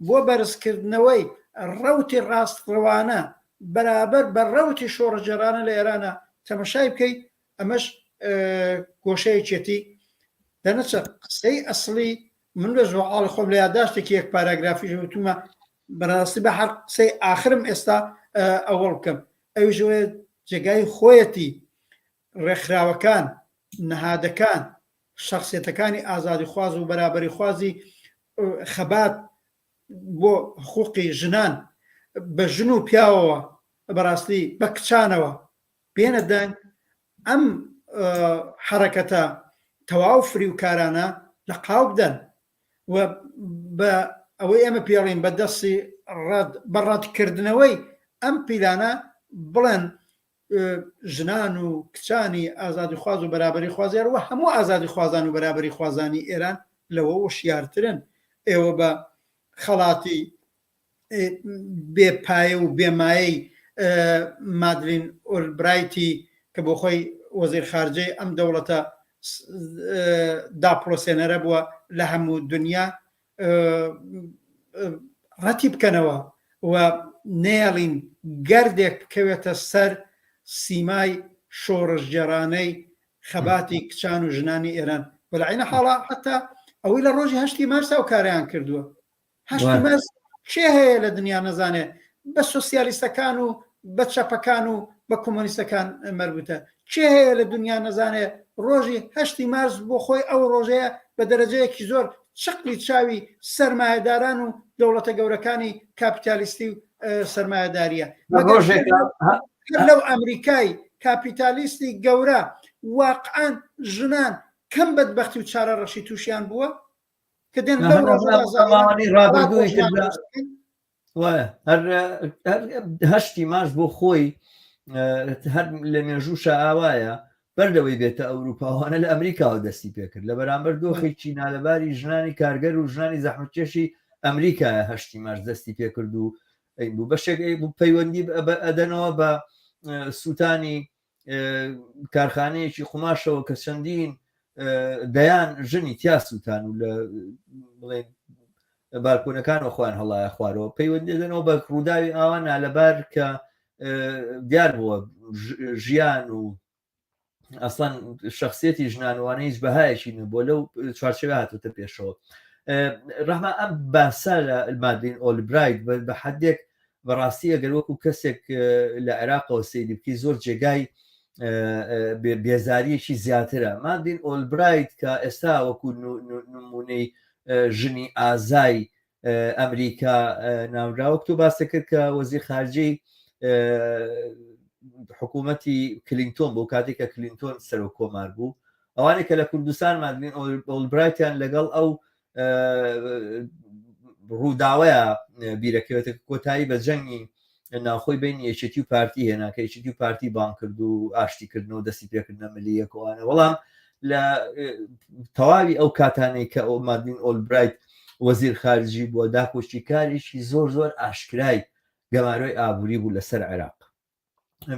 بۆ بەرزکردنەوەی ڕوتی ڕاستڕەوانە بەرابەر بە ڕوتی شۆڕجێرانە لە ئێرانە تەمەشای بکەیت ئەمەش گۆشەیەکێتی دەنەچە قسەی ئەسلی من لە زۆعاڵ خۆم لە یاداشتێکی یەک پاراگرافی وتومە بەراستی با هەر قسەی ئاخرم ئێستا ئەوەڵ بکەم ئەویش ئەوەیە جێگای خۆیەتی ڕێکخراوەکان نەهادەکان شخصیەتەکانی ئازادیخواز و بەرابەریخوازی خەبات بۆ حقوقی ژنان بە ژن و پیاوەوە بەڕاستی بە کچانەوە بێنە دەنگ ئەم حرەکەتە تەواو فریوکارانە لە قاو بدەن و بە ئەوەی ئێمە پێڵین بە دەستی ڕەد بە ڕەدکردنەوەی ئەم پیلانە بڵێن ژنان و کچانی ئازادی خواز و بەرابری خوازیار و هەموو ئازادی خوازان و بەرابری خوازانی ئێران لەوە وشیارترن ئێوە بە خەڵاتی بێ پایە و بێ مایەی مادلین ئۆلبرایتی کە بۆ خۆی وەزیر خارجەی ئەم دەوڵەتە داپڵۆسێنەرە بووە لە هەموو دنیا ڕەتی بکەنەوە و نێڵین گەردێک بکەوێتە سەر سیمای شۆڕشگێرانەی خەباتی کچان و ژنانی ئێران بەلعینە حاڵا حتا ئەوەی لە ڕۆژی هەشتی مارسا و کاریان کردووە هەشت مەرز کێ هەیە لە دنیا نەزانێ بە سۆسیالیستەکان و بە چەپەکان و بە کۆمۆنیستەکان مەربوتە کێ هەیە لە دنیا نەزانێ ڕۆژی هەشتی مارس بۆ خۆی ئەو ڕۆژەیە بە دەرەجەیەکی زۆر چقلی چاوی سرمایهداران و دەوڵەتە گەورەکانی کاپیتالیستی و سرمایهداریە لەو ئەمریکای کاپیتالیستی گەورە واقعان ژنان کەم بەدبختی و چارە ڕەشی تووشیان بووە هەشتی ماش بۆ خۆی هەر لە مێژوو شاوایە بەر لەوەی بێتە ئەوروپاوانە لە ئەمریکاوە دەستی پێکرد لە بەرامبەر دۆخێکی نالەباری ژنانی کارگەر و ژنانی زەحمتکێشی ئەمریکایە هەشتی ماش دەستی پێکرد و بوو بەشێک بوو پەیوەندی ئەدەنەوە بە سووتانی کارخانەیەکی قوماشەوە کە چەندین دەیان ژنی تیاسوتان و لە بڵێ بارکۆنەکان و خوان هەڵایە خوارەوە پەیوەندێدنەوە بە ڕووداوی ئاوا نالەبار کە دیار بووە ژیان و ئەسڵەن شخصێتی ژنانوانە هیچ بەهایەکی نە بۆ لەو چوارچەوە هاتوتە پێشەوە ڕەحما ئەم باسە لە مادین ئۆلبرایت بە حدێک بەڕاستی ئەگەر وەکو کەسێک لە عێراقەوە سەیری بکەی زۆر جێگای بێزاریەکی زیاترە مادین ئۆلبرایت کە ئێستا وەکو نمونەی ژنی ئازای ئەمریکا ناوراوە تۆ باسە کرد کە وەزی خارجەی حکوومەتی کلینتۆن بۆ کاتێک کە کلینتۆن سەرۆک کۆمار بوو ئەوانێک کە لە کوردستان مادین ئۆلبرایتیان لەگەڵ ئەو ڕووداوەیە بیرەکەوێتە کۆتایی بە جەنگی ناوخۆی بین یەکێتی و پارتی هێنا کە یەکێتی و پارتی بان کرد و ئاشتیکردن و دەستی پێکردنە ملی یەکوانە وەڵام لە تەواوی ئەو کاتانەی کە ئەو مادین ئۆلبرایت وەزیر خارجی بووە داکۆشی کارێکی زۆر زۆر ئاشکرای گەمارۆی ئابووری بوو لەسەر عێراق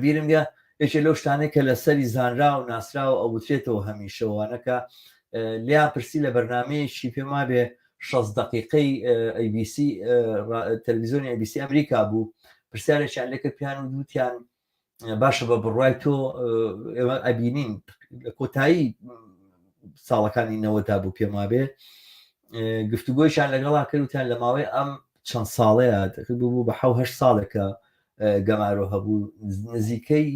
بیرم گە یەکێ لەو شتانەی کە لە سەری زانرا و ناسراوە ئەو وترێتەوە هەمیشەوانەکە لیان پرسی لە بەرنمەیەکی پێم وابێ شەز دقیقەی ABC تەلویزیۆنی ABC ئەمریکا بوو پرسیارێکیان لەکە پیان و دووتیان باشە بە بڕای تۆ ئێمە ئەبینین لە کۆتایی ساڵەکانی نەوەدا بوو پێم وابێ گفتوگۆیشان لەگەڵا کردوتیان لە ماوەی ئەم چەند ساڵەیە بوو بە حوهشت ساڵێکە گەمارۆ هەبوو نزیکەی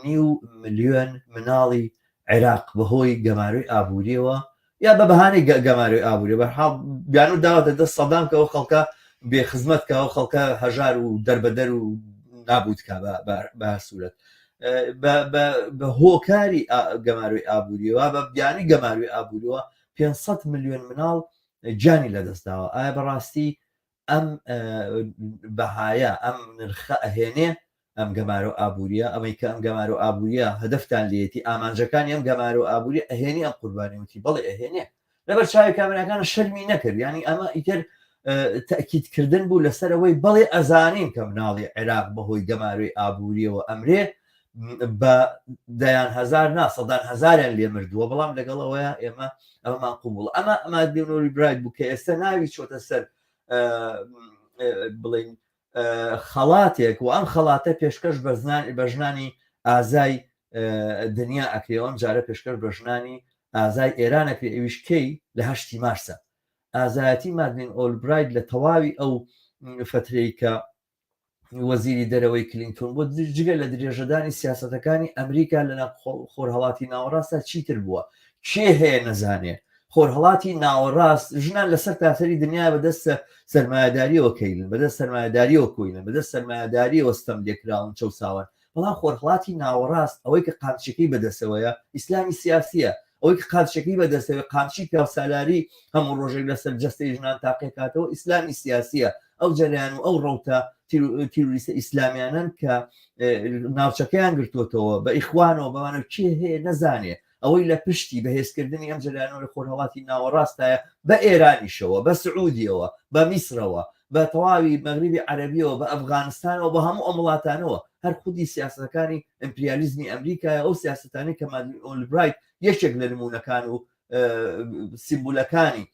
نیو ملیۆن مناڵی عێراق بەهۆی گەمارۆی ئابووریەوە یا بە بەهانەی گەمارۆی ئابووری بەحاڵ بیان و داوەتە دەست سەدام کە ئەو خەڵکە بێ خزمەت کە ئەو خەڵکە هەژار و دەربەدەر و نابوت کا بە سوورەت بە هۆکاری گەمارۆی ئابووریەوە بە بیانی گەماروی ئابووریەوە 500 میلیۆن مناڵ جانی لەدەستداوە ئایا بەڕاستی ئەم بەهایە ئەم نرخە ئەهێنێ ئەم گەمارۆ ئابووریە ئەمەی کە ئەم گەمارۆ ئابووریە هەدەفتان لێتی ئامانجەکانی ئەم گەمارۆ ئابووری ئەهێنی ئەم قوربانی وتی بەڵێ ئەهێنێ لەبەر چاوی کامراکان شەرمی نەکرد ینی ئەمە ئیتر تاکیدکردن بوو لەسەرەوەی بەڵێ ئەزانین کە مناڵی عێراق بەهۆی گەمارۆی ئابووریەوە ئەمرێ بە دەیان هەزار نا سەدان هەزاریان لێ مردووە بەڵام لەگەڵ ئەوەیە ئێمە ئەمەمان قوبوڵ ئەمە ئەما دێنۆری برایت بوو کە ئێستا ناوی چۆتە سەر بڵین خەڵاتێک و ئەم خەڵاتە پێشکەش بە زنانی بە ژنانی ئازای دنیا ئەکرێەوەم جارە پێشکەش بە ژنانی ئازای ئێران ئەکرێ ئەویش کەی لە هەشتی مارسە ئازایەتی مادنین ئۆلبراید لە تەواوی ئەو فترەی کە وەزیری دەرەوەی کلینتون بۆ جگە لە درێژەدانی سیاسەتەکانی ئەمریکا لە خۆرهڵاتی ناوەڕاستە چیتر بووە کێ هەیە نەزانێ خۆرهڵاتی ناوەڕاست ژنان لەسەر تاسەری دنیا بەدەستە سەرمایهداریەوە کەیلن بەدەست سەرمایهداریەوە کۆینە بەدەست سەرمایهداریەوە ستەم لێکراون چەساون بەڵام خۆرهەڵاتی ناوەڕاست ئەوەی کە قامچیەکەی بەدەستەوەیە ئیسلامی سیاسیە، ئەوەی کە قامچیەکەی بەدەستەوەی قامچی پیاوسالاری هەموو ڕۆژێک لەسەر جەستەی ژنان تاقیەکاتەوە ئیسلامی سیاسیە، ئەو جەرەیان و ئەو ڕەوتە تیرۆریستە ئیسلامیانەن کە ناوچەکەیان گرتۆتەوە بە ئیخوانەوە بەوانەوە کێ هەیە نەزانێت. ئەوەی لە پشتی بەهێزکردنی ئەم جەریانەوە لە خۆرهەڵاتی ناوەڕاستایە بە ئێرانیشەوە بە سعودیەوە بە میسرەوە بە تەواوی مەغریبی عەرەبیەوە بە ئەفغانستانەوە بە هەموو ئەم وڵاتانەوە هەر خودی سیاستەکانی ئەمپریالیزمی ئەمریکایە ئەو سیاستانی کە مادوی ئۆلبرایت یەکێک لە نمونونەکان و سیمبولەکانی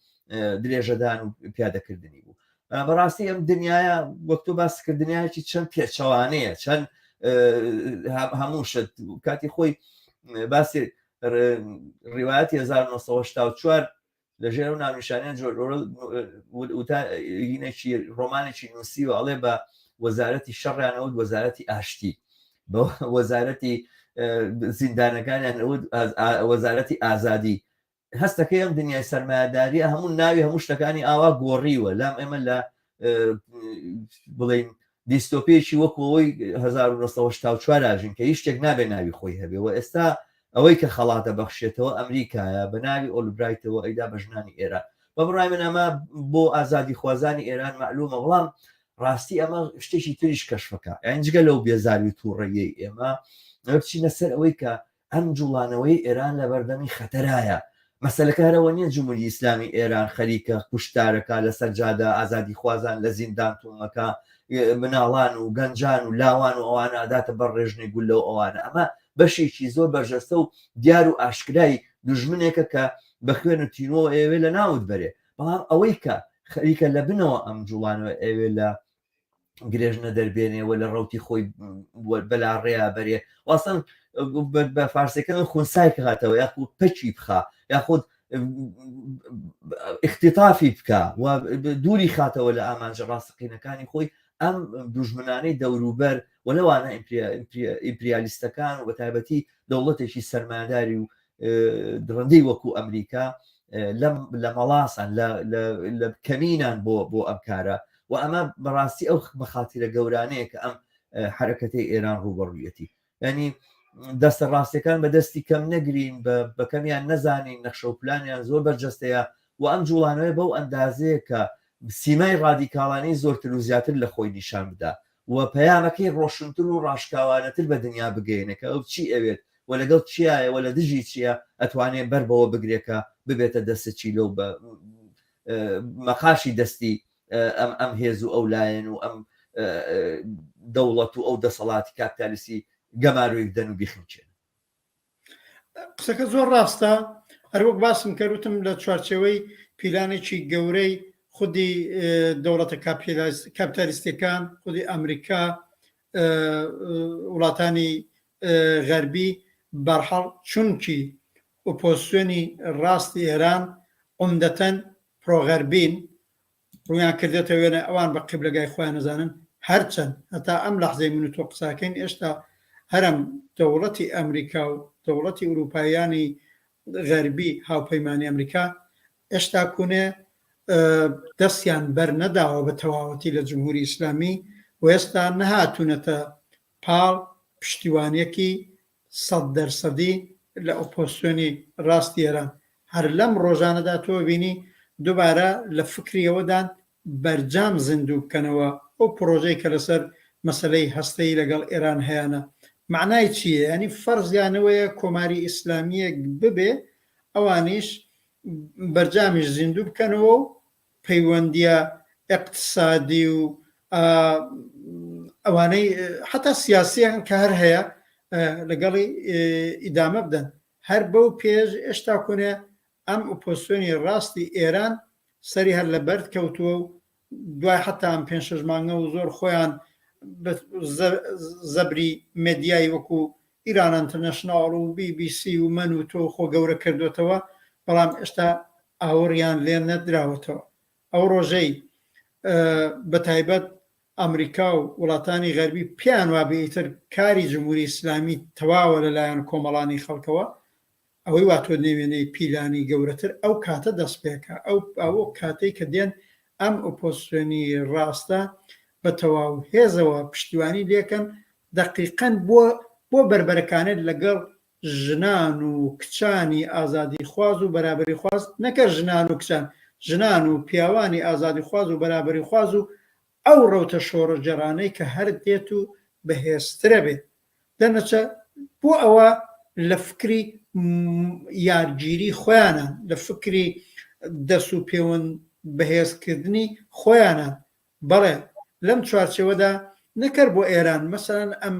درێژەدان و پیادەکردنی بوو بەڕاستی ئەم دنیاە وەک تۆ باس کرد دنیایکی چەند پێچەوانەیە چەند هەموو شت کاتی خۆی باسی ڕواەت 1994 لە ژێر و ناونیشانیان جۆر وتاینێکی ڕۆمانێکی نووسی و ئەڵێ بە وەزارەتی شەڕیانەوە وەزارەتی ئاشتی بە وەزارەتی زیندانەکانیان وەزارەتی ئازادی هەستەکەی ئەم دنیای سەرمایەداریە هەموو ناوی هەموو شتەکانی ئاوا گۆڕیوە لام ئێمە لە بڵین دیستۆپێکی وەکەوەی 1970 ژین کە هیچ شتێک نابێ ناوی خۆی هەبێ و ئێستا ئەوەی کە خەڵاتە بەخشێتەوە ئەمریکایە بە ناوی ئۆلبرایتەوە ئەیدا بە ژنانی ئێران بە بڕای من ئەمە بۆ ئازادی خوازانی ئێران معلومە بەڵام ڕاستی ئەمە شتێکی تریش کەشفەکە ئەنجگە لەو بێزاری تووڕەیەی ئێمە بچینە سەر ئەوەی کە ئەم جوڵانەوەی ئێران لەبەردەمی خەتەرایە. مەسەلەکە هەر ئەوە نیە جموری ئیسلامی ئێران خەریکە کوشتارەکا لەسەر جادە، ئازادیخوازان لە زیندان تومەکە، مناڵان و گەنجان و لاوان و ئەوانە ئەداتە بەر ڕێژنەی گوللە و ئەوانە. ئەمە بەشێکی زۆر بەرجەستە و دیار و ئاشکرای دوژمنێکە کە بە خوێن و تینوەوە ئەیەوێ لە ناوت بەرێ. بەڵام ئەوەی کە خەریکە لە بنەوە ئەم جوڵانەوە ئەیەوێ لە گرێژنە دەربێنێ و لە ڕوتی خۆی بەلا ڕێیا بەرێ واسان بە فارسەکان خونسای کاتەوە یاخود پەچی بخە یاخود اختتافی بکە و دووری خاتەوە لە ئامانجە ڕاستقینەکانی خۆی ئەم دوژمنانەی دەوروبەر و لەوانە ئیمپریالیستەکان و بە تایبەتی دەوڵەتێکی سەرماداری و درندەی وەکو ئەمریکا لە مەڵاسان لە کەمینان بۆ بۆ ئەم کارە و ئەمە بەڕاستی ئەو مەخاتیرە گەورانەیە کە ئەم حرەکەتی ئێران ڕوبەڕویەتی ینی دەستە ڕاستەکان بە دەستی کەم نەگرین بە کەمیان نەزانین نەخشە و پلانیان زۆر بەرجەستەیە و ئەم جوڵانەوەی بەو ئەندازەیە کە سیمای ڕادیکاڵانی زۆرتر و زیاتر لە خۆی نیشان بدا و پەیامەکەی ڕۆشنتر و ڕاشکاوانەتر بە دنیا بگەیەنێ کە ئەو چی ئەوێت و لەگەڵ چیایە و لە دژی چییە ئەتوانێ بەر بەوە بگرێ کە ببێتە دەستە چیلە و بە مەقاشی دەستی ئەم ئەم هێز و ئەو لایەن و ئەم دەوڵەت و ئەو دەسەڵاتی کاپتالیسی گەمارۆی بدەن و بیخنکێنن. قسەکە زۆر ڕاستە هەروەک باسم کە وتم لە چوارچەوەی پیلانێکی گەورەی خودی دەوڵەتە کاپتالیستەکان خودی ئەمریکا وڵاتانی غەربی بەرحەڵ چونکی ئۆپۆسیۆنی ڕاستی ئێران عمدەتەن پرۆغەربین ڕوویان کردێتە وێنە ئەوان بە قیبلەگای خۆیان ئەزانن هەرچەند هەتا ئەم لەحزەی من و تۆ قساکەین ئێشتا هەرم دەوڵەتی ئەمریکا و دەوڵەتی ئوروپاییانی غەربی هاوپەیمانی ئەمریکا ئێشتاکونێ دەستیان بەرنەداوە بە تەواوەتی لە جمهوری ئیسلامی و ئێستا نەهاتونەتە پاڵ پشتیوانیەکی سەد دەرسەدی لە ئۆپۆزسیۆنی ڕاستی ئێران هەر لەم ڕۆژانەدا تۆ ئەبینی دوبارە لە فکری ئەوەدان بەرجام زیندوو بکەنەوە ئەو پڕۆژەی کە لەسەر مەسەلەی هەستەیی لەگەڵ ئێران هەیانە مەعنای چییە یانی فەرزیان ئەوەیە کۆماری ئیسلامییەک ببێ ئەوانیش بەرجامیش زیندوو بکەنەوە و پەیوەندییە ئیقتسادی و ئەوانەی حەتا سیاسیان کە هەر هەیە لەگەڵی ئیدامە بدەن هەر بەو پێش ئێشتا کونێ ئەم ئۆپۆسیۆنی ڕاستی ئێران سەری هەر لە بەرد کەوتووە و دوای حەتا ئەم پێنج شەش مانگە و زۆر خۆیان زەبری مێدیای وەکو ئیران ئینتەرنەشناڵ و بی بی سی و من و تۆ خۆ گەورە کردۆتەوە بەڵام ئێشتا ئاوڕیان لێ نەدراوەتەوە ئەو ڕۆژەی بە تایبەت ئەمریکا و وڵاتانی غەربی پێیان وابێ ئیتر کاری جمهوری ئیسلامی تەواوە لەلایەن کۆمەڵانی خەڵکەوە ئەوەی وا تۆ نێوێنێی پیلانی گەورەتر ئەو کاتە دەستپێکە ئەو ئەو کاتەی کە دێن ئەم ئۆپۆزسیۆنی ڕاستە بە تەواو هێزەوە پشتیوانی لێکەن دەقیقەن بۆ بۆ بەربەرەکانێت لەگەڵ ژنان و کچانی ئازادی خواز و بەرابەری خواز نەکە ژنان و کچان ژنان و پیاوانی ئازادی خواز و بەرابەری خواز و ئەو ڕەوتە شۆڕەجێڕانەی کە هەر دێت و بەهێزترە بێت دەرنەچە بۆ ئەوە لە فکری یارگیری خۆیانە، لە فکری دەس و پێوەند بەهێزکردنی خۆیانە، بەڵێ لەم چوارچێوەدا نەک هەر بۆ ئێران، مەسەلەن ئەم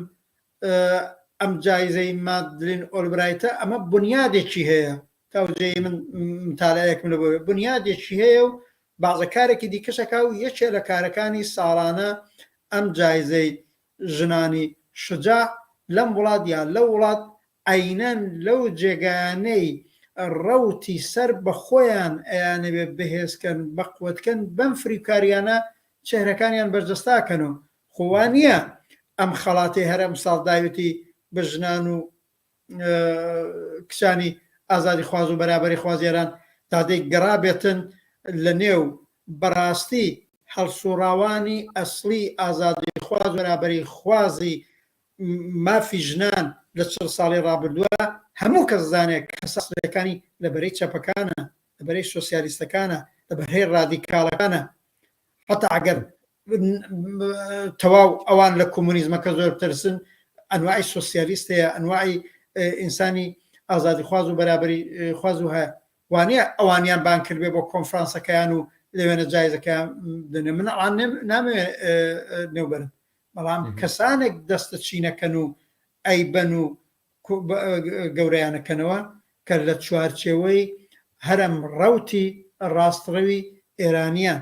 ئەم جایزەی مادلین ئۆلبرایتە ئەمە بنیادێکی هەیە تاوجێی من متالەیەکم لە بۆ بنیادێکی هەیە و بازە کارێکی دیکەشەکە و یەکێ لە کارەکانی ساڵانە ئەم جایزەی ژنانی شوجاع لەم وڵات یا لەو وڵات عەینەن لەو جێگایانەی ڕەوتی سەر بە خۆیان ئەیانەوێ بەهێز کەن بە قوەت کەن بەم فریوکاریانە چێهرەکانیان بەرجەستا کەن و خۆ وا نیە ئەم خەڵاتەی هەر ئەمساڵ داوێتی بە ژنان و کچانی ئازادی خواز و بەرابەری خوازیێران تادێک گەڕابێتن لە نێو بەڕاستی هەڵسوڕاوانی ئەسلی ئازادی خواز بەرابەری خوازی مافی ژنان لە چڕ ساڵی ڕابردووە هەموو کەس زانێک کەسەکانی لە بەرەی چەپەکانە لە بەرەی سوسیالیستەکانە لە بەرهەی ڕادیکاڵەکانە حتا ئەگەر تەواو ئەوان لە کۆمۆنیزمەکە زۆر ترسن ئەنوای سوسیالیست هەیە ئەنوای ئینسانی ئازادی خواز و بەرابری خواز و هەیە وانە ئەوانیان بان کردێ بۆ کۆنفرانسەکەیان و لەوێنە جایزەکە دەێ من ئەوان نامێ نێوبەرن بەڵام کەسانێک دەستە چینەکەن و ئەیبەن و گەوریانەکەنەوە کە لە چوارچێوەی هەرم ڕوتی ڕاستڕەوی ئێرانیان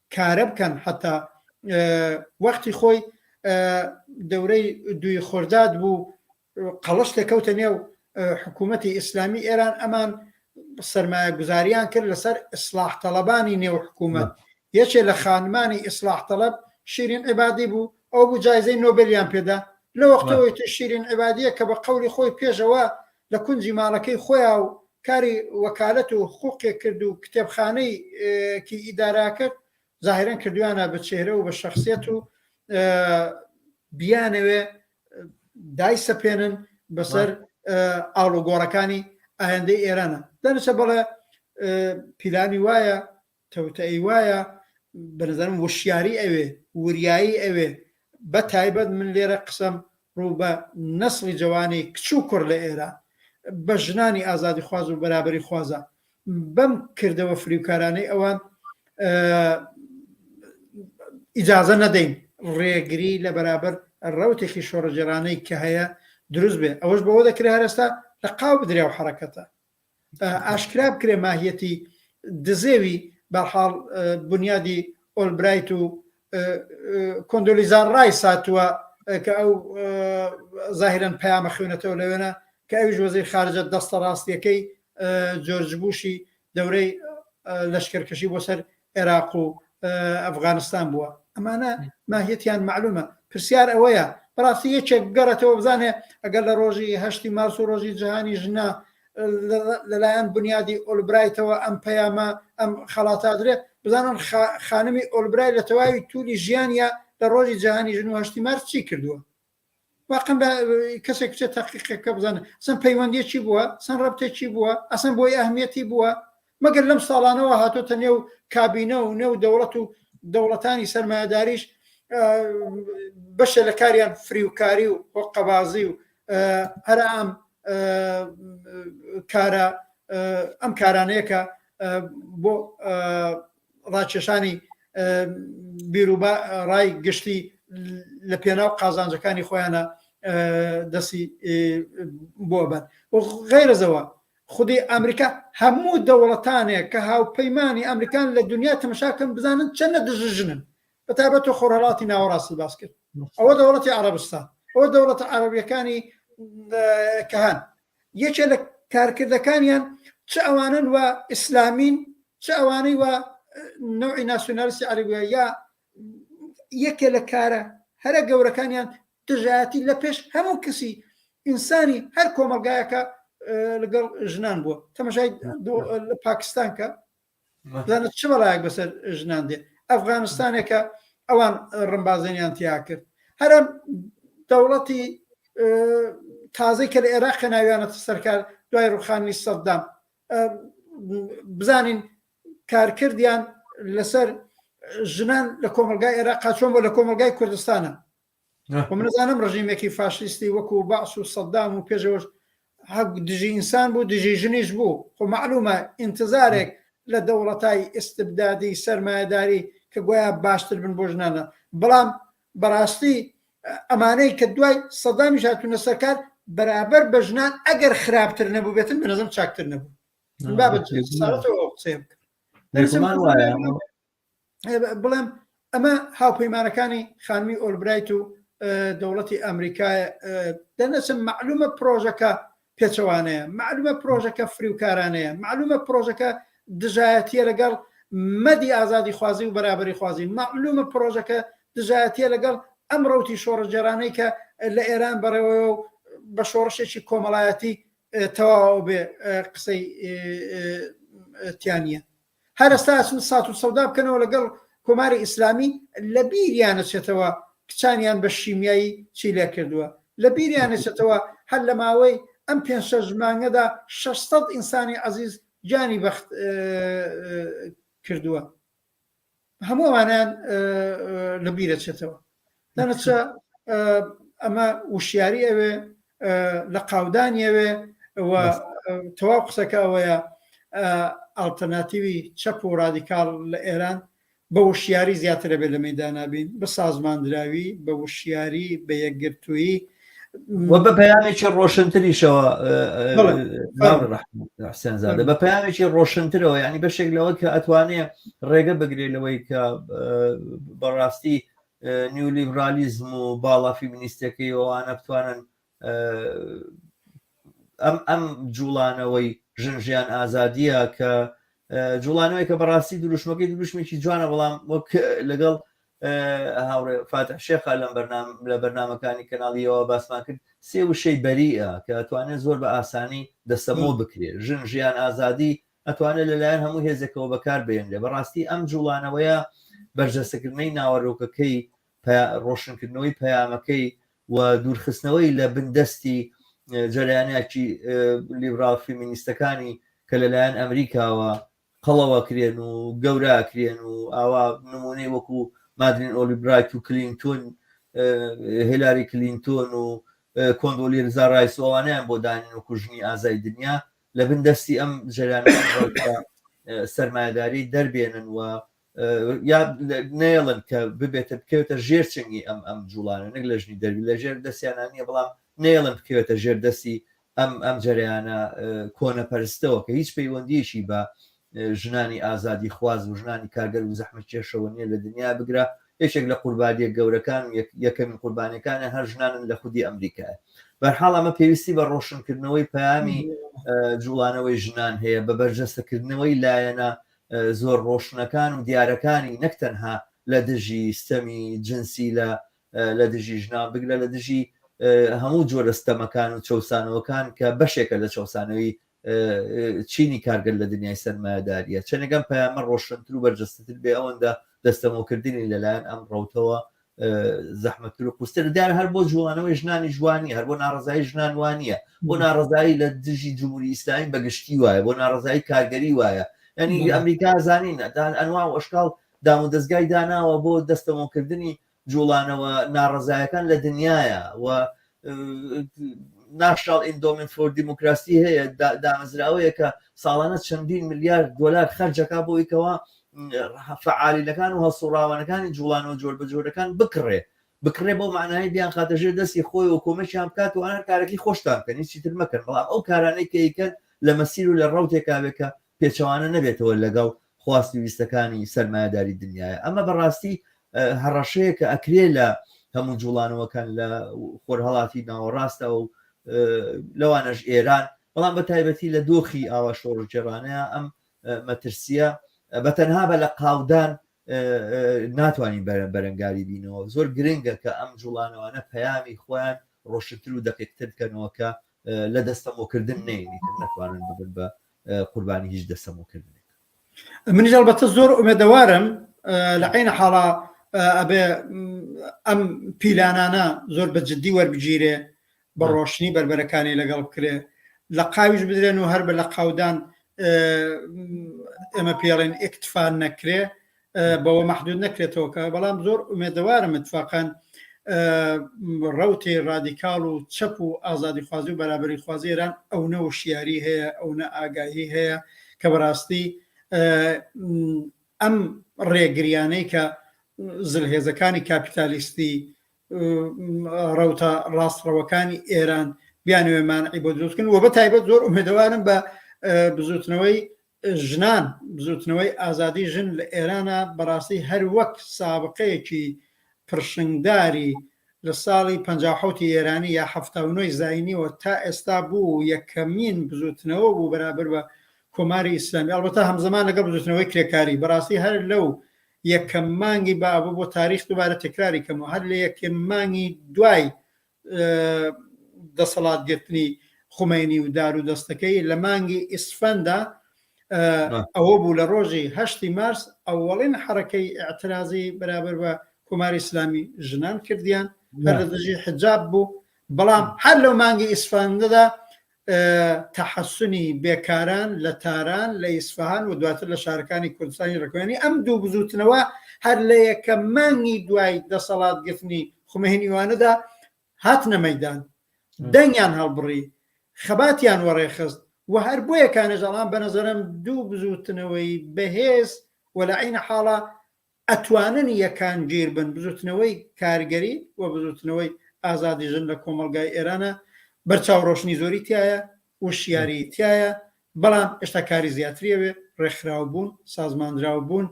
کارە بکەن حەتا وەختی خۆی دەورەی دوی خۆرداد بوو قەڵش دەکەوتە نێو حکوومەتی ئیسلامی ئێران ئەمان سرمایە گوزاریان کرد لەسەر ئیسلاح تەڵەبانی نێو حکوومەت یەکێ لە خانمانی ئیسلاح تەڵەب شیرین عبادی بوو ئەو بوو جایزەی نۆبلیان پێدا لە وەختەوەی شیرین عبادیە کە بە قولی خۆی پێشەوە لە کونجی ماڵەکەی خۆیا و کاری وەکالەت و حقوقێک کرد و کتێبخانەی کی ئیدارە کرد زاهیرەن کردویانە بە چێهرە و بە شەخسیەت و بیانەوێ دای سەپێنن بەسەر ئاڵوگۆڕەکانی ئایندەی ئێرانە دەنوسە بەڵێ پیلانی وایە توتئەی وایە بەنەزەرم وشیاری ئەوێ وریایی ئەوێ بەتایبەت من لێرە قسەم ڕوو بە نەسڵی جەوانی کچ و کوڕ لە ئێران بە ژنانی ئازادی خواز و بەرابەری خوازە بەم کردەوە فریوکارانەی ئەوان ئیجازە نەدەین ڕێگری لە بەرابەر ڕوتێکی شۆڕەجێرانەی کە هەیە دروست بێ ئەوەش بەوە دەکرێت هەرستا لە قاو بدریا و حرەکەتە ئاشکرا بکرێ ماهیەتی دزێوی بەرحاڵ بونیادی ئۆلبرایت و کۆندۆلیزا ڕای ساتووە کە ئەو زاهرن پەیامە خوێنەتەوە لەوێنە کە ئەویش وەزیر خارجە دەستە ڕاستیەکەی جۆرج بوشی دەورەی لەشکرکەشی بۆ سەر عێراق و ئەفغانستان بووە ئەمانە ماهیەتیان معلومە پرسیار ئەوەیە بەڕاستی یەکێک بگەڕێتەوە بزانێ ئەگەر لە ڕۆژی هەشتی مارس و ڕۆژی جیهانی ژنا لەلایەن بنیادی ئۆلبرایتەوە ئەم پەیامە ئەم خەڵاتادرێ بزانن خانمی ئۆلبرای لە تەواوی تولی ژیانە لە ڕۆژی جیهانی ژن و هەشتی مارس چی کردووە واقعەن بە کەسێک بچێت تاقیقێک کە بزانن سم پەیوەندیەکی بووە سن ڕەبتێکی بووە ئەسن بۆی ئەهمیەتی بووە مەگەر لەم ساڵانەوە هاتۆتە نێو کابینە و نێو دەوڵەت و دەوڵەتانی سەرمایهداریش بەشە لە کاریان فریوکاری و هۆقەبازی و هەر ئەم کارە ئەم کارانەیەکە بۆ ڕاکێشانی بیروبا ڕای گشتی لە پێناو قازانجەکانی خۆیانە دەسی بۆ بەن غیرەزەوە خودی ئەمریکا هەموو دەوڵەتانێک کە هاوپەیمانانی ئەمریکان لە دنیا تەمەشاکەم بزانن چەندە دژژنن بە تابەت و خۆرەڵاتی ناوەڕاستی باس کرد ئەوە دەوڵەتی عربستان ئەوە دەوڵەتە عربیەکانی کەهان یەکێ لە کارکردەکانیان چ ئەوانەن وا ئیسلامین چ ئەوانەی وا نەوعی ناسیۆنالیستی عەربیە یا یەکێ لە کارە هەرە گەورەکانیان دژایەتی لە پێش هەموو کەسی ئینسانی هەر کۆمەلگایەکە لەگەڵ ژنان بووە تەمەشای لە پاکستان کە بزانە چ بەڵایەک بەسەر ژنان دێ ئەفغانستانێکە ئەوان ڕمبازێنیان تیا کرد هەرم دەوڵەتی تازەی کە لە عێراق کە ناویانەتە سەرکار دوای ڕوخانی سەددام بزانین کارکردیان لەسەر ژنان لە کۆمەلگای عێراق چۆن بۆ لە کۆمەلگای کوردستانە و من ئەزانم ڕژیمێکی فاشیستی وەکوو بەعس و سەدام و پێشەوەش هە دژی ئینسان بوو دژی ژنیش بوو خۆ معلومە ئینتزارێک لە دەوڵەتای ئیستبدادی سەرمایەداری کە گویا باشتر بن بۆ ژنانە بەڵام بەڕاستی ئەمانەی کە دوای سەدامیش هاتوونە سەرکار بەرابەر بە ژنان ئەگەر خراپتر نەبوو بێتن بنەزم چاکتر نەبوو بابەت قسەیە بکە. دەرسمان وایە بڵێم ئەمە هاوپەیمانەکانی خانمی ئۆلبرایت و دەوڵەتی ئەمریکا دەنەچم معلومە پرۆژەکە پێچەوانەیە معلومە پرۆژەکە فریوکارانەیە معلومە پرۆژەکە دژایەتە لەگەڵ مەدی ئازادی خوازی و بەرابری خوازی معلومە پرۆژەکە دژایەتە لەگەڵ ئەم ڕوتی شۆڕجێرانەی کە لە ئێران بەڕێوە و بە شۆڕشێکی کۆمەڵایەتی تەواو بێ قسەی تیانە هەر ئەستا ئەچن سات و سەودا بکەنەوە لەگەڵ کۆماری ئیسلامی لە بیریان ئەچێتەوە کچانیان بە شیمیایی چی لێ کردووە لە بیریان ئەچێتەوە هەر لە ماوەی ئەم پێنج شەش مانگەدا شەش سەد ئینسانی عەزیز گیانی بەخت کردووە. هەموو ئەوانیان لە بیرەچێتەوە دانەچە ئەمە وشیاری ئەوێ لە قاودانی ئەوێ تەواو قسەکە ئەوەیە ئاڵتەرناتیوی چەپ و ڕادیکال لە ئێران بە وشیاری زیاترە بێ لە مەدانابین بە سازماندراوی بە وشیاری بە یەکگرتوویی وە بە پەیامێکی ڕۆشنتریشەوە حسێنزادە بە پەیامێکی ڕۆشنترەوە ینی بەشێک لەوە کە ئەتوانێ ڕێگە بگرێت لەوەی کە بەڕاستی نیولیبرالیزم و باڵا فیمنیستەکەی ئەوانە بتوانن ئەم ئەم جوڵانەوەی ژنژیان ئازادیە کە جوڵانەوەی کە بەڕاستی دروشمەکەی دروشمێکی جوانە بەڵام وەک لەگەڵ هاوڕێ فاتح شێخا لەم بەرنام لە بەرنمەکانی کەناڵیەوە باسمان کرد سێ وشەی بەریە کە ئەتوانێت زۆر بە ئاسانی دەستەمۆ بکرێت ژن ژیان ئازادی ئەتوانێت لەلایەن هەموو هێزێکەوە بەکار بێنێ بەڕاستی ئەم جوڵانەوەیە بەرجەستەکردنەی ناوەرۆکەکەی ڕۆشنکردنەوەی پەیامەکەی و دوورخستنەوەی لە بندەستی جەریانێکی لیبرال فیمینیستەکانی کە لەلایەن ئەمریکاوە قەڵەوەکرێن و گەوراکرێن و ئاوا نمونەی وەکو مادرین ئۆلی برایت و کلینتون هێلاری کلینتۆن و کۆندۆلی رزا رایس ئەوانیان بۆ دانین و کوژنی ئازای دنیا لە بن دەستی ئەم جەرانە سەرمایداری دەربێنن و یا نێڵن کە ببێتە بکەوێتە ژێر چنگی ئەم ئەم جوڵانە نەک لە ژنی دەروی لە ژێر دەستیانان نیە بەڵام نێڵن بکەوێتە ژێر دەستی ئەم ئەم جریانە کۆنەپەرستەوە کە هیچ پەیوەندیەکی بە ژنانی ئازادی خواز و ژنانی کارگەر و زەحمە کێشەوە نیە لە دنیا بگرە یەکێک لە قوربانیە گەورەکان و یەکەمین قوربانەکانە هەر ژنانن لە خودی ئەمریکای بەرحاڵ ئەمە پێویستی بە ڕۆشنکردنەوەی پامی جوڵانەوەی ژنان هەیە بە بەرجەستەکردنەوەی لایەنە زۆر ڕۆشنەکان و دیارەکانی نەک تەنها لە دژی ستەمی جنسی لە لە دژی ژنان بگرە لە دژی هەموو جۆرە ستەمەکان و چەوسانەوەکان کە بەشێکە لە چەوسانەوەی چینی کارگەل لە دنیای سەرمایەداریە چەنەگەم پەیامە ڕۆشنتر و بەرجەستتر بێ ئەوەندە دەستەمۆکردنی لەلایەن ئەم ڕوتەوە زەحمەتتر و قوستر دیار هەر بۆ جوڵانەوەی ژنانی جوانی هەر بۆ ناڕزایی ژنان وانە بۆ ناڕزایی لە دژی جمهوری ئیسلامی بەگشتی وایە بۆ ناڕزایی کارگەری وایە ینی ئەمریکا زانین دان ئەنوا و ئەشکال دام و دەستگای داناوە بۆ دەستەمۆکردنی جوڵانەوە ناڕزایەکان لە دنیاە و ناشناڵ ئیندۆمنت فۆر دیموکراسی هەیە دامەزراوەیەکە ساڵانە چەندین ملیار دۆلار خەرجەکە بۆی کەەوە فعالیلەکان و هەسوڕاوانەکانی جوڵانەوە جۆر بە جۆرەکان بکڕێ بکڕێ بۆ معنای بیان خاتە ژێر دەستی خۆی و کۆمەشیان بکات و ئەنار کارەکەی خۆشتان بکەن هیچی تر مەکەن بەڵام ئەو کارانەی کەیکەن لە مەسیر و لە ڕوتێکاوێکە پێچەوانە نەبێتەوە لەگەڵ خواست و ویستەکانی سەرمایەداری دنیاە ئەمە بەڕاستی هەڕەشەیە کە ئەکرێ لە هەموو جوڵانەوەکان لە خۆرهڵاتی ناوەڕاستەوە و لەوانەش ئێران بەڵام بە تایبەتی لە دۆخی ئاوا شۆڕگێڕانەیە ئەم مەترسیە بە تەنها بە لە قاودان ناتوانین بەرە بەرەنگاری بینەوە زۆر گرنگە کە ئەم جوڵانەوانە پەیامی خۆیان ڕۆشتتر و دەقیقتر بکەنەوە کە لە دەستەمۆکردن نینی ناتوانن ببن بە قوربانی هیچ دەسەمۆ کردنێک. منیش ئەڵبەتە زۆر ئومێدەوارم لە عینە حاڵا ئەبێ ئەم پیلانانە زۆر بە جددی وەربگیرێ بە ڕۆشنی بەربەرەکانی لەگەڵ بکرێ لە قاویش بدرێن و هەر بە لە قاودان ئێمە پێڵێن ئەکتفان نەکرێ بەوە مەحدود نەکرێتەوە کە بەڵام زۆر ئومێدەوارم اتفاقان ڕوتی ڕادیکاڵ و چەپ و ئازادی خوازی و بەرابری خوازی ئێران ئەونە و شیاری هەیە ئەونە ئاگاهی هەیە کە بەڕاستی ئەم ڕێگریانەی کە زلهێزەکانی کاپیتالیستی ڕوتە ڕاستڕەوەکانی ئێران بیانوێمان عیبۆ دروستکن و بە تایبەت زۆر ئومێدەوارم بە بزوتنەوەی ژنان، بزووتنەوەی ئازادی ژن لە ئێرانا بەڕاستی هەر وەک سابقەیەکی پڕشنگداری لە ساڵی پەنجا و حەوتی ئێرانی یا حەفتا و نۆی زاینیەوە تا ئێستا بوو و یەکەمین بزووتنەوە بوو بەرابەر بە کۆماری ئیسلامی ئەڵبەتە هەمزەمان لەگەڵ بزووتنەوەی کرێکاری بەڕاستی هەر لەو یەکەم مانگی بابە بۆ تاریخ دووبارە تەکراری کەمەوە هەر لە یەکەم مانگی دوای دەسەڵات گرتنی خومەینی و دار و دەستەکەی لە مانگی ئیسفەندا ئەوە بوو لە ڕۆژی هەشتی مارس ئەوەڵین حرەکەی ئاعترازی بەرابەر بە کۆماری ئسلامی ژنان کردیان لە دژی حجاب بوو بەڵام هەر لەو مانگی ئیسفاندەدا تەحەسونی بێکاران لە تاران، لە ئیسفەهان و دواتر لە شارەکانی کوردستانی ڕکوێنی ئەم دوو بزووتنەوە هەر لە یەکەم مانگی دوای دەسەڵات گرتنی خومەینیوانەدا هاتنە مەیدان دەنگیان هەڵبڕی خەباتیان وەڕێخست و هەر بۆیە کانێژەڵان بە نەزەرم دوو بزووتنەوەی بەهێز و لە عینە حاڵە ئەتوانن یەکانگیر بن. بزوتنەوەی کارگەری و بزوتنەوەی ئازادی ژن لە کۆمەڵگای ئێرانە، بەرچاو رۆشنی زۆری تیایە، وشیاریی تیایە، بەڵام ئێشتا کاری زیاتری ئەوێ، رێکخراو بوون، سازماندراو بوون،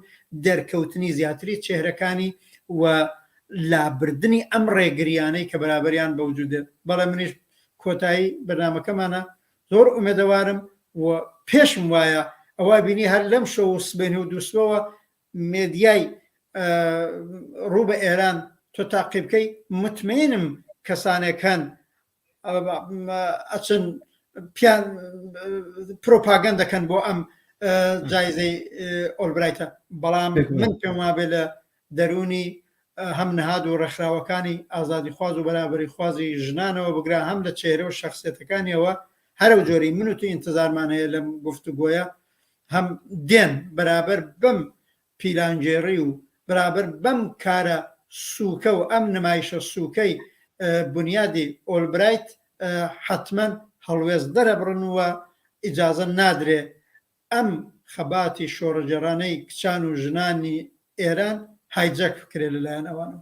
دەرکەوتنی زیاتری چێهرەکانی و لابردنی ئەم رێگریانەی کە بەرابەریان بە وجود دێت. بەڵێ منیش کۆتایی بەرنامەکەمانە، زۆر ئومێدەوارم و پێشم وایە ئەوە ئەبینی هەر لەمشەو و سبەینێ و دووسبەوە مێدیای ڕوو بە ئێران تۆ تاقی بکەی متمەینم کەسانێک هەن ئەچن پیان پرۆپاگەن دەکەن بۆ ئەم جایزەی ئۆلبرایتە بەڵام من پێم وابێ لە دەرونی هەم نهاد و ڕێکخراوەکانی ئازادی خواز و بەرابری خوازی ژنانەوە بگرا هەم لە چێرە و شخصێتەکانیەوە هەرو جۆری من و تو ئینتظارمان هەیە لەم گفتوگۆیە هەم دێن بەرابەر بەم پیلانگێڕی و بەرابەر بەم کارە سووکە و ئەم نمایشە سووکەی بونیادی ئۆلبرایت حەتمەن هەڵوێست دەرەبڕن و ئیجازە نادرێ ئەم خەباتی شۆڕەگێڕانەی کچان و ژنانی ئێران هایجەک بکرێ لەلایەن ئەوانەوە.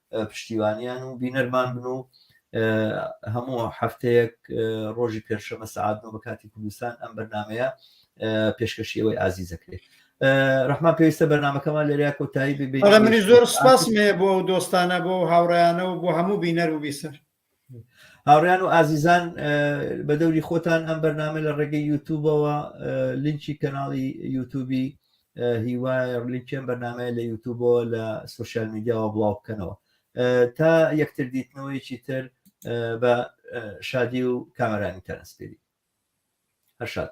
پشتیوانیان و بینەرمان بن و هەموو هەفتەیەک ڕۆژی پێنجشەمە سەعات نۆ بە کاتی کوردستان ئەم بەرنمەیە پێشکەشی ئەوەی ئازیزەکرێت ڕحمان پێویستە بەرنمەکەمان لێریا کۆتایی ببێت منی زۆر سپاس مێ بۆ دۆستانە بۆ هاوڕیانە و بۆ هەموو بینەر و بیسەر هاوڕیان و ئازیزان بە دەوری خۆتان ئەم بەرنامە لە ڕێگەی یوتوبەوە لینکی کەناڵی یوتوبی هیوای لینکێن بەرنمەیە لە یوتوبەوە لە سوسیال میدیاوە بڵاو بکەنەوە تا یەکتر دیتنەوەیکی تر بە شادی و کامەرانی تەنسپێری هەر شاد